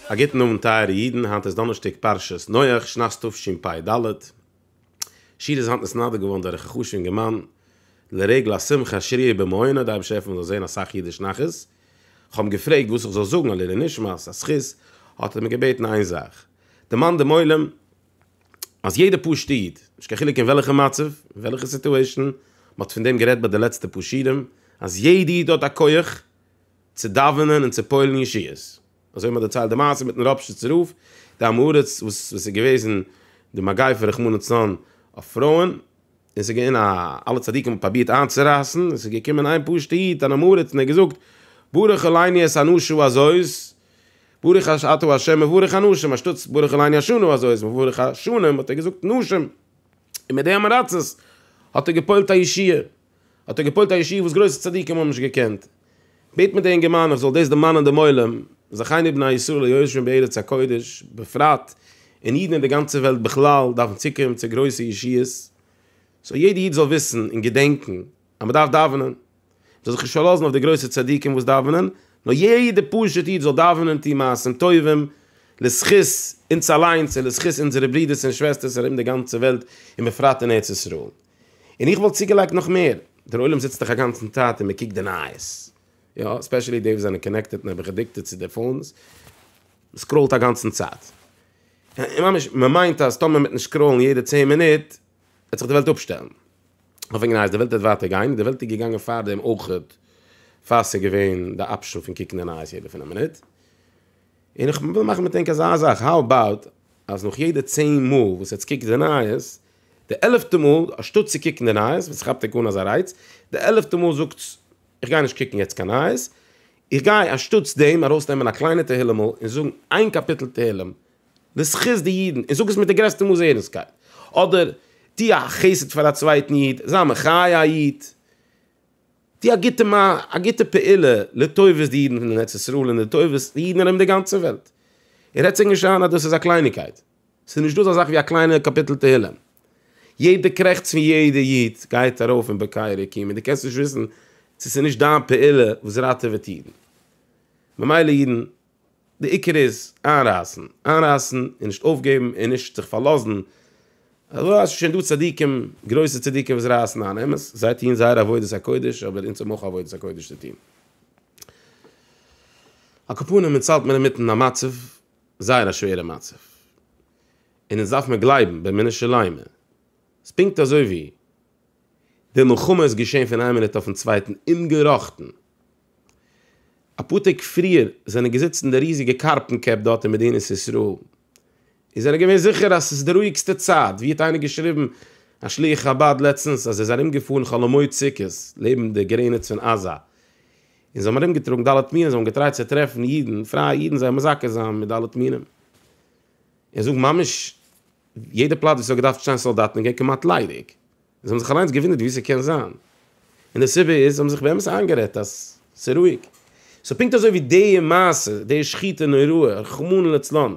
א גוטן אוונט טייערע אידן, היינט איז דאנערשטאג פרשת נח, שנת תשפ ד, שיעור איז היינט נתנדב געווארן דורך א חשובן אינגערמאן לרגל א שמחה שרירי במעונו, די אייבערשטער העלפן מען זאל זען אסאך אידיש נחת, איך האב אים געפרעגט וואס איך זאל זאגן א לעילוי נשמת, א זכות, האט ער מיר געבעטן איין זאך, דערמאן דעם עולם. אז יעדע פשוטע איד, נישט קיין חילוק אין וועלכע מצב, אין וועלכע סיטועשאן, מען האט פון דעם גערעדט ביי די לעצטע פאר שיעורים, אז יעדע איד האט א כח צו דאווענען און צו פועל'ן ישועות, אזוי ווי מען האט דערציילט די מעשה מיט'ן ראפשיצער רב, די עם הארץ וואס וואס איז געוועזן די מגיפה רחמנא לצלן אויף פרויען, און ס'איז געווען א אלע צדיקים האבן פראבירט איינצורייסן, און ס'איז געקומען איין פשוטע איד אן עם הארץ און ער האט געזאגט, ברוך הוא לעיני את אנשיו אזוי איז ברך ה' אתה ה' מברך אנשים, אנשטאטס ברך אלוהינו אשנו, אזוי איז מברך השנים, האט ער געזאגט נשים, און מיט די אמעראצעס האט ער געפועלט א ישועה, האט ער געפועלט א ישועה וואס גרויסע צדיקים האבן נישט געקענט. בעט מיט די אינגערמאן איך זאל דאס דערמאנען דעם עולם, זכינו בני ישראל להיות יושבים בארץ הקודש בפרט, און אידן אין די גאנצע וועלט בכלל דארפן צוקומען צו גרויסע ישועות, סאו יעדע איד זאל וויסן און געדענקן, אז מ'דארף דאווענען, מ'זאל זיך נישט פארלאזן אויף די גרויסע צדיקים וואס דאווענען, נאר יעדער פשוט איד זאל דאווענען און טון מעשים טובים, לזכות אונז אליינס און לזכות אונזערע ברודערס און שוועסטערס ארום די גאנצע וועלט און בפרט אין ארץ ישראל. און איך וואלט צוגעלייגט נאך מער, דער עולם זיצט דאך אגאנצן צייט און מ'קוקט די נייעס, יא, עספעשעלי די וואס זענען קאנעקטעד און אביך עדיקטעד צו די פאונס, מ'סקראולט אגאנצן צייט, און ממש מ'מיינט אז טאמער מ'וועט נישט סקראולן יעדע צען מינוט, וועט זיך די וועלט אפשטעלן. כ'האב שוין גענייעס די וועלט וועט ווייטער גיין, און די וועלט איז געגאנגען פארדעם אויכעט, פאר ס'איז געווען די אפשען פון קוקן די נייעס יעדע פינף מינוט. און איך וויל מאכן מיט ענק אזא זאך, האו אבאוט אז נאך יעדע צען מאל וואס עטס קוקט די נייעס, די עלעפטע מאל אנשטאט צו קוקן די נייעס, וואס ס'כאפט ענק אן אזא רייץ, די עלעפטע מאל זאגטס, איך גיי נישט קוקן יעצט קיין נייעס, איך גיי אנשטאטס דעם ארויסנעמען א קליינע תהילימ'ל און זאגן איין קאפיטל תהלים לזכות די אידן, און זאג עס מיט די גרעסטע מאס ערנסטקייט, אדער טו א חסד פאר א צווייטן איד, זיי מחיה א איד, טו א גוטע מע א גוטע פעולה לטובת די אידן פון ארץ ישראל און לטובת די אידן ארום די גאנצע וועלט. און רעד זיך נישט איין אז דאס איז א קלייניגקייט, ס'איז נישטא אזא זאך ווי א קליינע קאפיטל תהילים. יעדע קרעכץ פון יעדע איד גייט ארויף אין בקעה רקיעים און דו קענסט נישט וויסן צו ס'איז נישט דיין פעולה וואס ראטעוועט אידן. ממילא אידן. די עיקר איז איינרייסן, איינרייסן און נישט אויפגעבן און נישט זיך פארלאזן, אזוי אז ס'שוין דא צדיקים, גרויסע צדיקים וואס רייסן איין, אמת, זיי טוען זייער עבודת הקודש, אבער אונז האבן אויך א עבודת הקודש צו טון. על כל פנים אונז האלט מיר אינמיטן א מצב, זייער א שווערע מצב, און אונז דארף מיר גלייבן באמונה שלימה, ס'פונקט אזוי ווי. די מלחמה איז געשען פון איין מינוט אויפן צווייטן אומגעראכטן. אפאר טעג פריער זענען געזיצן די ריזיגע קארפן קעפ דארט אין מדינת ישראל און זענען געווען זיכער אז עס איז די רואיגסטע צייט, ווי האט איינער געשריבן א שליח חבד לעצטנס אז ער איז ארומגעפארן חול המועד סוכות לעבן די גרעניץ פון עזה און זיי האבן ארומגעטראגן ד' מינים זיי האבן געטרייט צו טרעפן אידן, פרייע אידן זיי מזכה זיין מיט ד' מינים. איך זאג ממש יעדע פלאץ ווי ס'האט געדארפט שטיין סאלדאטן איז געווען כמעט ליידיג, און זיי האבן זיך אליינס געוואונדערט ווי ס'קען זיין, און די סיבה איז זיי האבן זיך באמת איינגערעדט אז ס'איז רואיג, סאו פונקט אזוי ווי די מעשה, די שחיטה נוראה, רחמנא לצלן,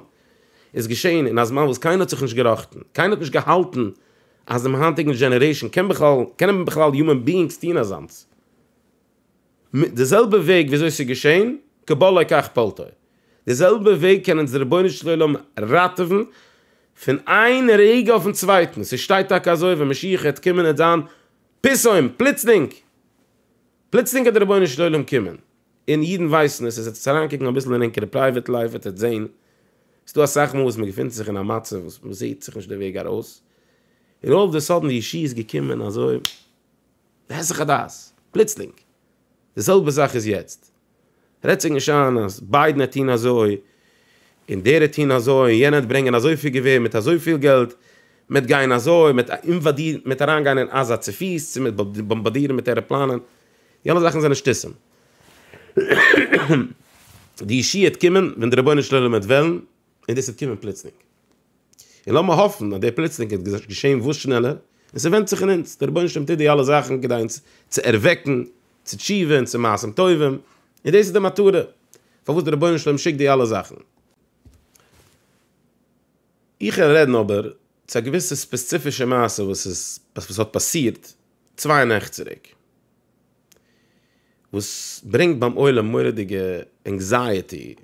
איז געשען אין א זמן וואס קיינער האט זיך נישט געראכטן, קיינער האט נישט געהאלטן אז דעם היינטיגן דזשענערעישאן קען בכלל, קענען בכלל יומען ביאינגס טון אזאנס. מיט די זעלבע וועג וויאזוי ס'איז געשען, כבא ליה כך פעלתא. די זעלבע וועג קען אונז דער רבונו של עולם ראטעווען פון איין רגע אויפן צווייטן, ס'שטייט טאקע אזוי ווען משיח העט קומען העט זיין פתאום, פלוצלינג, פלוצלינג העט דער רבונו של עולם קומען, און אידן ווייסן עס, עס עטס אריינקוקן אביסל אין ענקערע פרייוועט לייף וועט עטס זען, ס'דא אסאך מאל וואס מען געפינט זיך אין א מצב וואס מען זעט זיך נישט די וועג ארויס, און אלל אוו די סאדען די ישועה איז געקומען אזוי. היסח הדעת, פלוצלינג. די זעלבע זאך איז יעצט. רעדט זיך נישט איין אז ביידן העט טון אזוי, און דער העט טון אזוי, און יענער העט ברענגען אזויפיל געווער מיט אזויפיל געלט, מ'העט גיין אזוי, מ'העט אינוואדירן, מ'העט אריינגיין אין עזה צופיס, צו מ'העט באמבאדירן מיט ערעפלאנען. די אלע זאכן זענען שטותים. די ישועה העט קומען ווען דער רבונו של עולם העט וועלן, און דאס העט קומען פלוצלינג. און לאמיר האפן אז די פלוצלינג וועט געשען וואס שנעלער, און ס'ווענדט זיך אין אונז, דער רבונו של עולם טוט די אלע זאכן כדי אונז צו ערוועקן צו תשובה און צו מעשים טובים, און דאס איז די מטרה פארוואס דער רבונו של עולם שיקט די אלע זאכן. איך קען רעדן אבער צו א געוויסע ספעציפישע מעשה וואס איז וואס האט פאסירט צוויי נעכט צוריק, וואס ברענגט ביים עולם מורא'דיגע ענקזייעטי,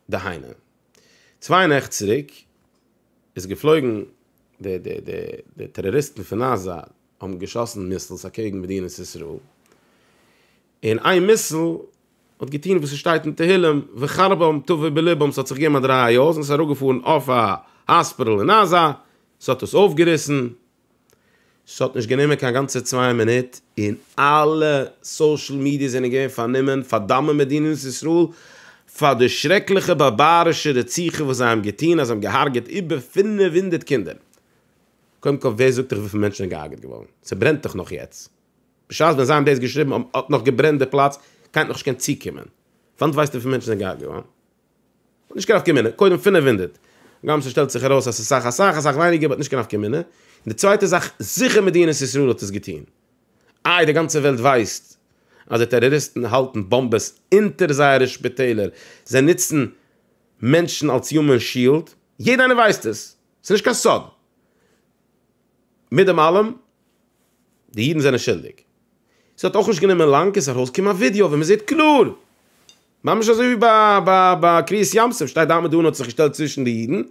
דהיינו, צוויי נעכט צוריק איז געפלויגן, די די די די טעראריסטן פון עזה האבן געשאסן מיסלס אקעגן מדינת ישראל, און איין מיסל האט געטון וואס עס שטייט אין תהילים וחרבם תבוא בלבם, ס'האט זיך געגעבן א דריי אויס און ס'איז אראפגעפארן אויף א האספיטאל אין עזה, ס'האט עס אויפגעריסן, ס'האט נישט גענומען קיין גאנצע צוויי מינוט און אלע סאושעל מידיעס זענען געווען פארנומען פארדאמען מדינת ישראל פאר די שרעקליכע בארבארישע רציחה וואס זיי האבן געטון אז זיי האבן געהארגעט איבער פֿינף הונדערט קינדער. קודם כל ווער זאגט דיך וויפיל מענטשן זענען געהארגעט געווארן? ס'ברענט דאך נאך יעצט. בשעת ווען זיי האבן דאס געשריבן האט נאך געברענט די פלאץ, כעת נאך נישט געקענט צוקומען. פארוואס ווייסטו וויפיל מענטשן זענען געהארגעט געווארן? נישט קיין נפקא מינה, קודם פֿינף הונדערט גראם ס'שטעלט זיך ארויס אז ס'איז סאך אסאך אסאך ווייניגער באט נישט קיין נפקא מינה, און די צווייטע זאך זיכער מדינת ישראל האט עס געטוהן, איי די גאנצע וועלט ווייסט אז די טעראריסטן האלטן באמבעס אונטער זייערע שפיטעלער, זיי נוצן מענטשן אלס יומען שיעלד, יעדע איינער ווייסט עס, ס'איז נישט קיין סוד. מיט דעם אלעם, די אידן זענען שולדיג. ס'האט אויך נישט גענומען לאנג און ס'איז ארויסגעקומען א ווידיאו ווי מ'זעט קלאר, ממש אזוי ווי ביי קריעת ים סוף, שטייט דוד און האט זיך געשטעלט צווישן די אידן, און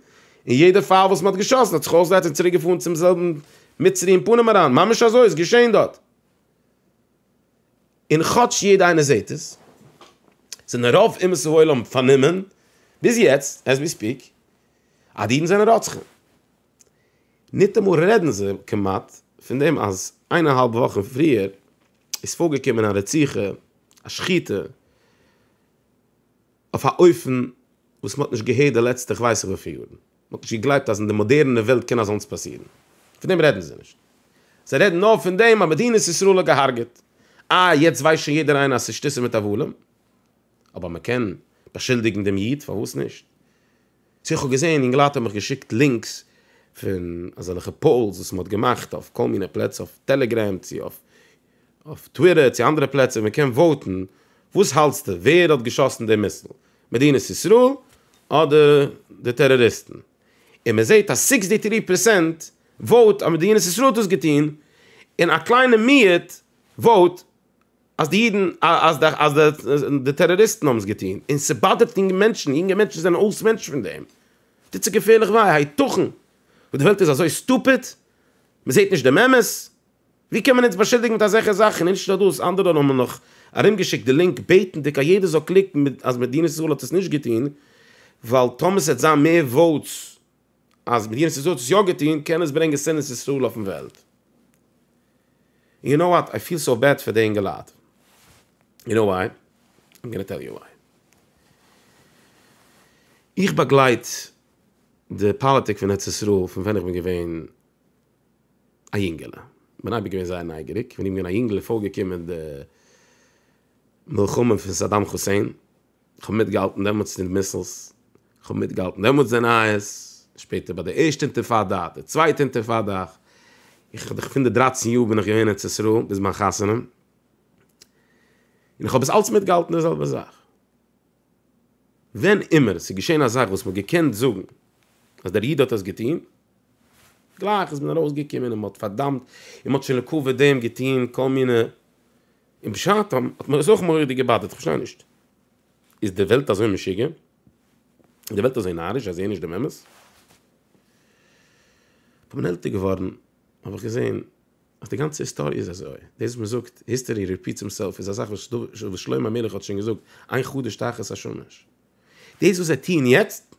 יעדער פייל וואס מ'האט געשאסן האט זיך אויסגעהיילט און צוריקגעפארן צום זעלבן מצרי אין פנים אריין, ממש אזוי איז געשען דארט. און כאטש יעדער איינער זעט עס, זענען רוב אומות העולם פארנומען, ביז יעצט, עז ווי ספיק, אז די אידן זענען רוצחים. ניטאמאל רעדן זיי, כמעט, פון דעם אז איינערהאלב וואכן פריער איז פארגעקומען א רציחה, א שחיטה, אויף א אופן וואס מ'האט נישט געהערט די לעצטע כ'ווייס נישט וויפיל יארן, מ'האט נישט געגלייבט אז אין די מאדערענע וועלט קען אזאנס פאסירן. פון דעם רעדן זיי נישט. זיי רעדן נאר פון דעם אז מדינת ישראל האט געהארגעט. איי יעצט ווייסט שוין יעדער איינער אז ס'איז שטיסע מיט הבלים? אבער מ'קען באשולדיגן דעם איד, פארוואס נישט? צו איך האב געזען אינגעלייט האבן מיך געשיקט לינקס פון אזעלכע פאולס וואס מ'האט געמאכט אויף כל מיני פלעצער אויף טעלעגרעם צו אויף אויף טוויטער צו אנדערע פלעצער ווי מ'קען וואוטן וואס האלטסטו ווער האט געשאסן די מיסל מדינת ישראל אדער די טעראריסטן און מ'זעט אז סיקסטי טרי פערסענט וואוט אז מדינת ישראל האט דאס געטון און א קליינע מיעוט וואוט אז די אידן, אז די, אז די, די טעראריסטן האבן עס געטון, און ס'באדערט יונגע מענטשן, יונגע מענטשן זענען אויס מענטשן פון דעם, טוט זיי געפערליך וויי, הייתכן? וואס די וועלט איז אזוי סטופיד? מ'זעט נישט דעם אמת? ווי קען מען אונז באשולדיגן מיט אזעלכע זאכן? און נישט נאר דאס, אנדערע האבן מיר נאך ארומגעשיקט די לינק בעטנדיג אז יעדער זאל קליקן אז מדינת ישראל האט עס נישט געטון, ווייל טאמער ס'וועט זיין מער וואוטס אז מדינת ישראל האט עס יא געטון קען עס ברענגען שנאת ישראל אויפן וועלט. און יו נאו וואט איי פיל סאו בעד פאר די אינגעלייט. יו נאו וויי? איים גאנא טעל יו וויי. איך באגלייט די פאליטיק פון ארץ ישראל פון ווען איך בין געווען א יונגעלע. כ'בין אייביג געווען זייער נייגעריג. ווען איך בין געווען א יונגעלע איז פארגעקומען די מלחמה פון סאדאם חוסעין. כ'האב מיטגעהאלטן דעמאלטס די מיסלס, כ'האב מיטגעהאלטן דעמאלטס די נייעס, שפעטער ביי די ערשטע אינטיפאדא, די צווייטע אינטיפאדא, איך האב פון די דרייצן יאר בין איך געווען אין ארץ ישראל ביז מיין חתונה, און איך האב עס אלץ מיטגעהאלטן די זעלבע זאך. ווען אימער ס'איז געשען א זאך וואס מ'האט געקענט זאגן אז דער איד האט עס געטון, גלייך איז מען ארויסגעקומען און מ'האט פארדאמט און מ'האט שוין לקבוע דעם געטון כל מיני און בשעתם האט מיר עס אויך מורא'דיג געבאדערט, כ'פארשטיי נישט, איז די וועלט אזוי משוגע? איז די וועלט אזוי נאריש זיי זעען נישט דעם אמת? כ'בין עלטער געווארן האב איך געזען אז די גאנצע היסטאריע איז אזוי, דאס וואס מ'זאגט היסטערי ריפיטס הימסעלף איז א זאך וואס שלמה המלך האט שוין געזאגט איין חדש תחת השמש, דאס וואס זיי טוען יעצט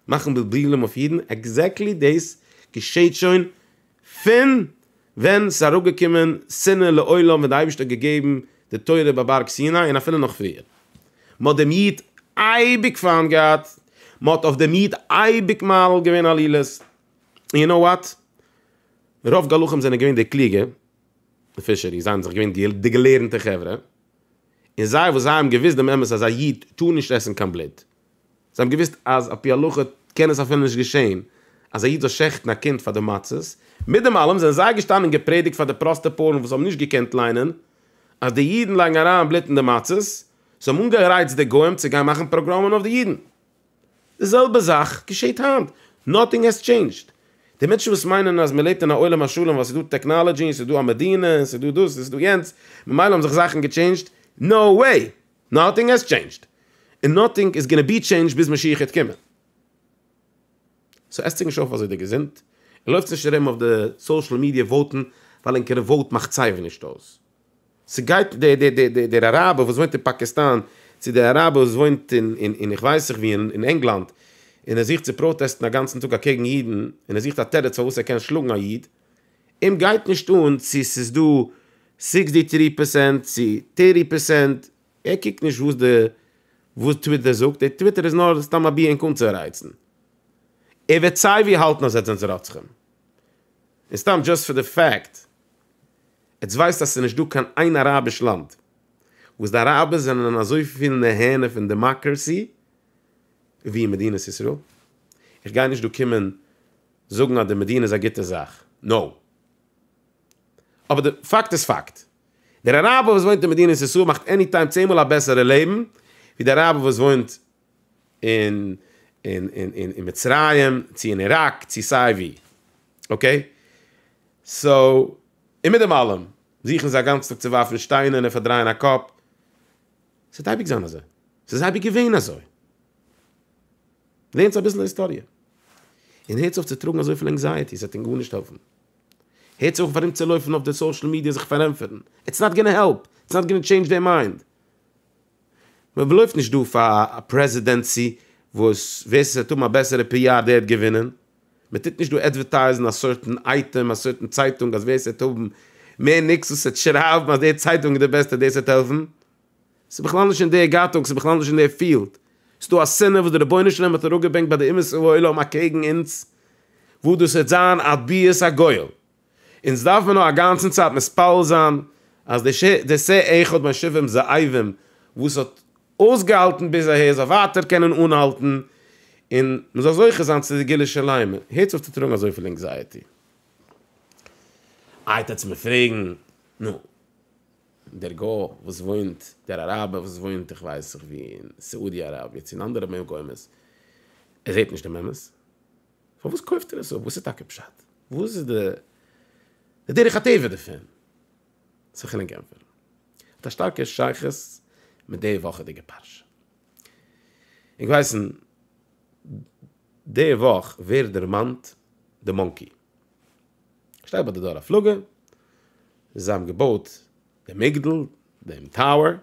מאכן בלבולים אויף אידן עקזעקטלי דאס געשעהט שוין פון ווען ס'איז אראפגעקומען שנאה לעולם ווען דער אייבערשטער האט געגעבן די תורה ביי בארג סיני און אפילו נאך פריער. מען האט דעם איד אייביג פיינט געהאט, מען האט אויף דעם איד אייביג מעליל געווען עלילות, און יו נאו וואט? רוב גלחים זענען געווען די קלוגע, די פישערי, זיי זענען זיך געווען די געלערנטע חברה, און זיי וואס זיי האבן געוואוסט דעם אמת אז א איד טאר נישט עסן קיין בלוט, זיי האבן געוואוסט אז על פי הלכה קען עס אפילו נישט געשען אז א איד זאל שעכטן א קינד פאר די מצות, מיט דעם אלעם זענען זיי געשטאנען און געפרעדיגט פאר די פראסטע פארן וואס האבן נישט געקענט ליינען אז די אידן לייגן אריין בלוט אין די מצות, זיי האבן אנגערייצט די גוים צו גיין מאכן פאגראמען אויף די אידן. די זעלבע זאך געשעט היינט, נאטינג העז טשעינדזשד. די מענטשן וואס מיינען אז מען לעבט אין א עולם השלם ווייל ס'איז דא טעקנאלעדזשי און ס'איז דא א מדינה און ס'איז דא דאס און ס'איז דא יענץ ממילא האבן זיך זאכן געטשעינדזשד, נאו וועי! נאטינג העז טשעינדזשד און נאטינג איז גאנע בי טשעינדזשד ביז משיח העט קומען. סאו עסט זיך נישט אויף אזוי די געזונט און לויפטס נישט ארום אויף די סאושעל מידיע וואוטן ווייל ענקערע וואוט מאכט סייווי נישט אויס. סגייט דער אראבער וואס וואוינט אין פאקיסטאן צו דער אראבער וואס וואוינט אין איך ווייס איך ווי אין ענגלאנד און ער זוכט צו פראטעסטן אגאנצן טאג אקעגן אידן און ער זוכט א תירוץ פארוואס ער קען שלאגן א איד. אים גייט נישט אן צו ס'איז דא סיקסטי טרי פערסענט צו טערטי פערסענט, ער קוקט נישט וואס די וואס טוויטער זאגט, די טוויטער איז נאר סתם א ביע ענק אנצורייצן, ער וועט סייווי האלטן אז עטס זענטס רוצחים, און סתם דזשאסט פאר די פעקט, עטס ווייסט אז ס'איז נישט דא קיין איין אראביש לאנד וואס די אראבער זענען אזויפיל נהנה פון דעמאקרעסי ווי אין מדינת ישראל, איך גיי נישט דא קומען. זאגן אז די מדינה איז א גוטע זאך, נאו. אבער די פאקט איז פאקט. דער אראבער וואס וואוינט אין מדינת ישראל מאכט עני טיים צען מאל א בעסערע לעבן ווי די אראבער וואס וואוינט אין אין אין אין אין מצרים, צו אין איראק, צו סיי ווי. אקעי? סאו, און מיט דעם אלעם, זוכן זיי א גאנץ טאג צו ווארפן שטיינער און פארדרייען א קאפ. ס'וועט אייביג זיין אזוי. ס'איז אייביג געווען אזוי. לערנטס אביסל היסטאריע, און הערטס אויף צו טראגן אזויפיל ענקזייעטי, ס'וועט אונז גארנישט העלפן. הערטס אויף ארומצולויפן אויף די סאושעל מידיע זיך פארענטפערן, איטס נאט גאנא העלפ, איטס נאט גאנא טשעינדזש דעיר מיינד. מען לויפט נישט דא פאר א פרעזידענסי וואס ווער ס'וועט האבן א בעסערע פי אר דער וועט געווינען, מען טוט נישט דא עדווערטייזן א סערטען אייטעם, א סערטען צייטונג אז ווער ס'וועט האבן מער ניקס וואס וועט שרייבן אז דער צייטונג איז די בעסטע דאס וועט העלפן, ס'איז בכלל נישט אין דער גאטונג, ס'איז בכלל נישט אין דער פיעלד. ס'איז דא א שנאה וואס דער רבונו של עולם האט אראפגעברענגט ביי די אומות העולם אקעגן אונז, וואס דאס וועט זיין עד ביאת הגואל. אונז דארף מיר נאר אגאנצן צייט מתפלל זיין אז דער ש ד סה אחד בין שבעים זאבים וואס האט אויסגעהאלטן ביז אהער זאל ווייטער קענען אנהאלטן, און מ'זאל זוכה זיין צו די גילו שלימה. הערטס אויף צו טראגן אזויפיל ענקזייעטי. איי טוטס מיר פרעגן, נו. דער גוי וואס וואוינט, דער אראבער וואס וואוינט איך ווייס זיך ווי אין סאודי אראביע צו אין אנדערע מקומות, ער זעט נישט דעם אמת, פארוואס קויפט ער עס אפ? וואס איז טאקע פשט? וואס איז די דרך הטבע דערפון? צו כ'ענק ענטפערן, האט א שטארקע שייכות מיט די וואכעדיגע פרשה. אונז ווייסן די וואך ווערט דערמאנט די מאנקי. שטייט ביי די דור הפלגה, זיי האבן געבויט דעם מגדל, דעם טאוער, און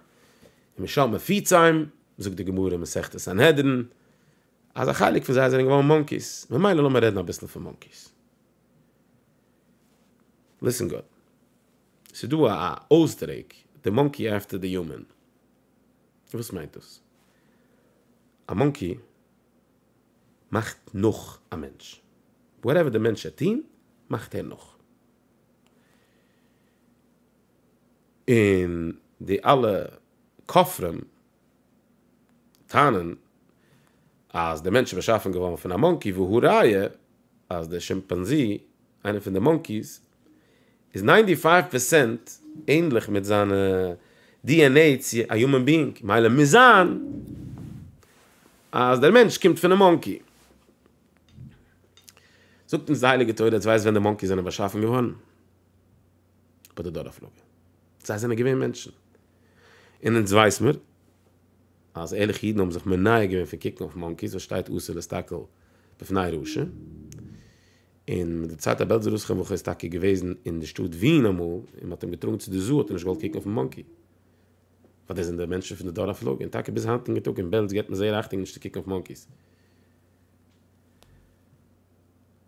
משל מפיציים, זאגט די גמרא אין מסכת סנהדרין, אז א חלק פון זיי זענען געווארן מאנקיס, ממילא לאמיר רעדן אביסל פון מאנקיס. ליסן גוד, ס'איז דא א אויסדרוק, די מאנקי עפטער די יומען. וואס מיינט דאס? א מאנקי מאכט נאך א מענטש. וואטעווער די מענטש וועט טוהן מאכט ער נאך. און די אלע כופרים טענה'ן אז די מענטש איז באשאפן געווארן פון א מאנקי והא ראיה אז די שימפאנזי, איינע פון די מאנקיס, איז ניינטי פייוו פערסענט ענדליך מיט זיינע די ען עי צו א יומען ביאינג מילא מוז זיין אז דער מענטש קומט פונעם מאנקי. זאגט אונז די הייליגע תורה אז דו ווייסט ווען די מאנקיס זענען באשאפן געווארן? ביי די דור הפלגה. זיי זענען געווען מענטשן. און אונז ווייס מיר אז ערליכע אידן האבן זיך מנער געווען פון קוקן אויף מאנקיס וואס שטייט אסור להסתכל בפני רשע. און מיט די צייט א בעלזער רוסכער וועלכער איז טאקע געוועזן אין די שטאט ווין אמאל און מען האט אים געטראגן צו די זו האט ער נישט געוואלט קוקן אויפן מאנקי ווייל דאס זענען די מענטשן פון די דור הפלגה און טאקע ביז היינטיגן טאג אין בעלז געבט מען זייער אכטונג נישט צו קוקן אויף מאנקיס.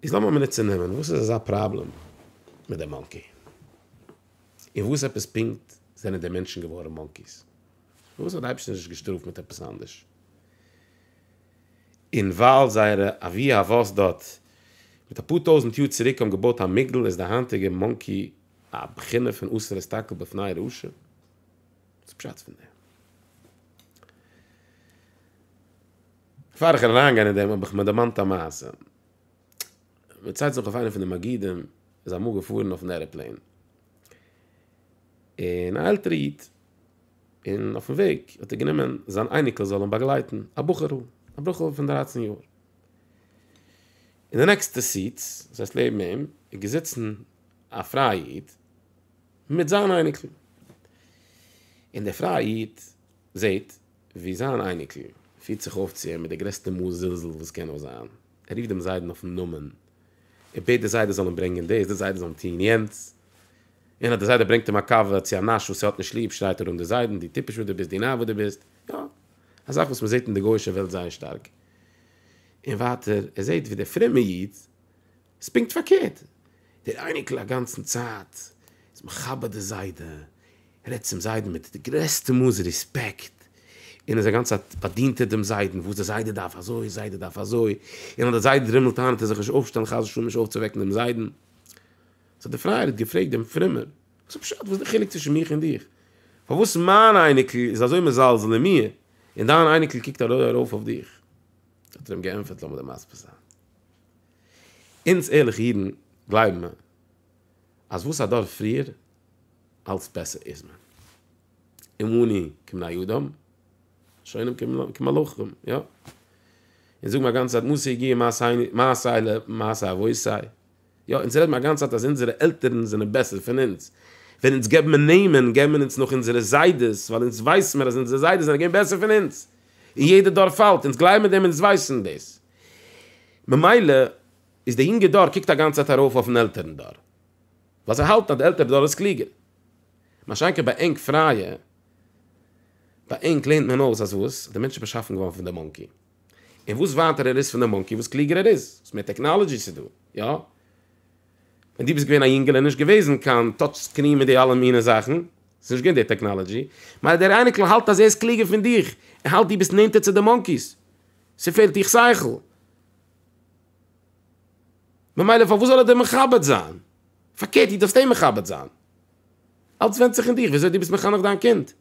איז לאמיר מינוט צו נעמען וואס איז אזא פראבלעם מיט די מאנקי? און וואס עפעס פונקט זענען די מענטשן געווארן מאנקיס? פארוואס האט די אייבערשטער נישט געשטראפט מיט עפעס אנדערש? און ווייל זייערע אבי אבות דארט מיט אפאר טויזענט יאר צוריק האבן געבויט א מגדל איז די היינטיגע מאנקי א בחינה פון אסור להסתכל בפני רעשים. וואס איז פשט פון דעם? בעפאר איך וועל אריין גיין אין דעם האב איך מיר דערמאנט א מעשה. מען ציילט זיך אויף איינער פון די מגידים איז אמאל געפארן אויפן ערעפלעין. און א עלטערע איד. און אויפן וועג האט ער גענומען זיין אייניקל זאל אים באגלייטן, א בחור'ל, א בחור'ל פון דרייצן יאר. אין די נעקסטע סיט, דאס הייסט לעבן אים, איז געזיצן א פרייע איד מיט זיין אייניקל. און דער פרייע איד זעט ווי זיין אייניקל פירט זיך אויף צו אים מיט די גרעסטע מאס זלזול וואס קען נאר זיין, ער רופט דעם זיידן אויפן נאמען, ער בעט די זיידע זאל אים ברענגען דאס, די זיידע זאל אים טון יענץ. און אז דער זיידע ברענגט אים א קאווע צו א נאש וואס ער האט נישט ליב שרייט ער אן די זיידן דו טיפש וואס דו ביסט דו נאר וואס דו ביסט, יא, א זאך וואס מען זעט אין די גוי'שע וועלט זייער שטארק. און ווייטער ער זעט ווי דער פרומע איד איז פונקט פארקערט, דער אייניקל אגאנצן צייט איז מכבד די זיידע, רעדט צום זיידן מיט די גרעסטע מאס רעספעקט, און איז א גאנצע צייט באדינט ער דעם זיידן, וואס דער זיידע דארף אזוי, זיידע דארף אזוי, און אז דער זיידע דרימלט איין וועט ער זיך נישט אויפשטעלן חס ושלום נישט אויפצואוועקן דעם זיידן. סאו די פרייער האט געפרעגט דעם פרומער, וואס איז פשט, וואס איז די חילוק צווישן מיך און דיך? פארוואס מיין אייניקל איז אזוי מזלזל אין מיר, און דיין אייניקל קוקט אזוי ארויף אויף דיך? האט ער אים געענטפערט, לאמיר דיר מסביר זיין, אונז ערליכע אידן גלייבן מיר אז וואס א דור פריער, אלץ בעסער איז מען. אמוני כבני אדם, שונאים כמלאכים, יא? אונז זאגן א גאנצע צייט מעשי יגיע מעשי נישט, מעשי לב מעשי אבות סיי יא, אונז רעדן א גאנצע צייט אז אונזערע עלטערן זענען בעסער פון אונז. ווען אונז געבן מיר נעמען, געבן מיר אונז נאך אונזערע זיידעס, ווייל אונז ווייסן מיר אז אונזערע זיידעס זענען געווען בעסער פון אונז. און יעדע דור פאלט, אונז גלייבן אין דעם אונז ווייסן דאס. ממילא איז די יונגע דור קוקט א גאנצע צייט ארויף אויפן עלטערן דור. ווייל זיי האלטן אז די עלטערע דור איז קלוגער. מה שאין כן ביי ענק פרייע, ביי ענק לערנט מען אויס אז וואס? די מענטש איז באשאפן געווארן פון די מאנקי. און וואס ווייטער ער איז פון די מאנקי וואס קלוגער ער איז, וואס מער טעקנאלעדזשי ס'איז דא, יא? ווען דו ביסט געווען א יונגעל איז נישט געוועזן קיין טאטש סקרין מיט די אלע מיני זאכן, ס'איז נישט געווען די טעקנאלעדזשי, ממילא דער אייניקל האלט אז ער איז קלוגער פון דיך, ער האלט דו ביסט נענטער צו די מאנקיס, ס'פעלט דיך שכל, ממילא פארוואס זאל ער דיר מכבד זיין? פארקערט דו דארפסט אים מכבד זיין, אלץ ווענדט זיך אין דיך וויאזוי דו ביסט מחנך דיין קינד.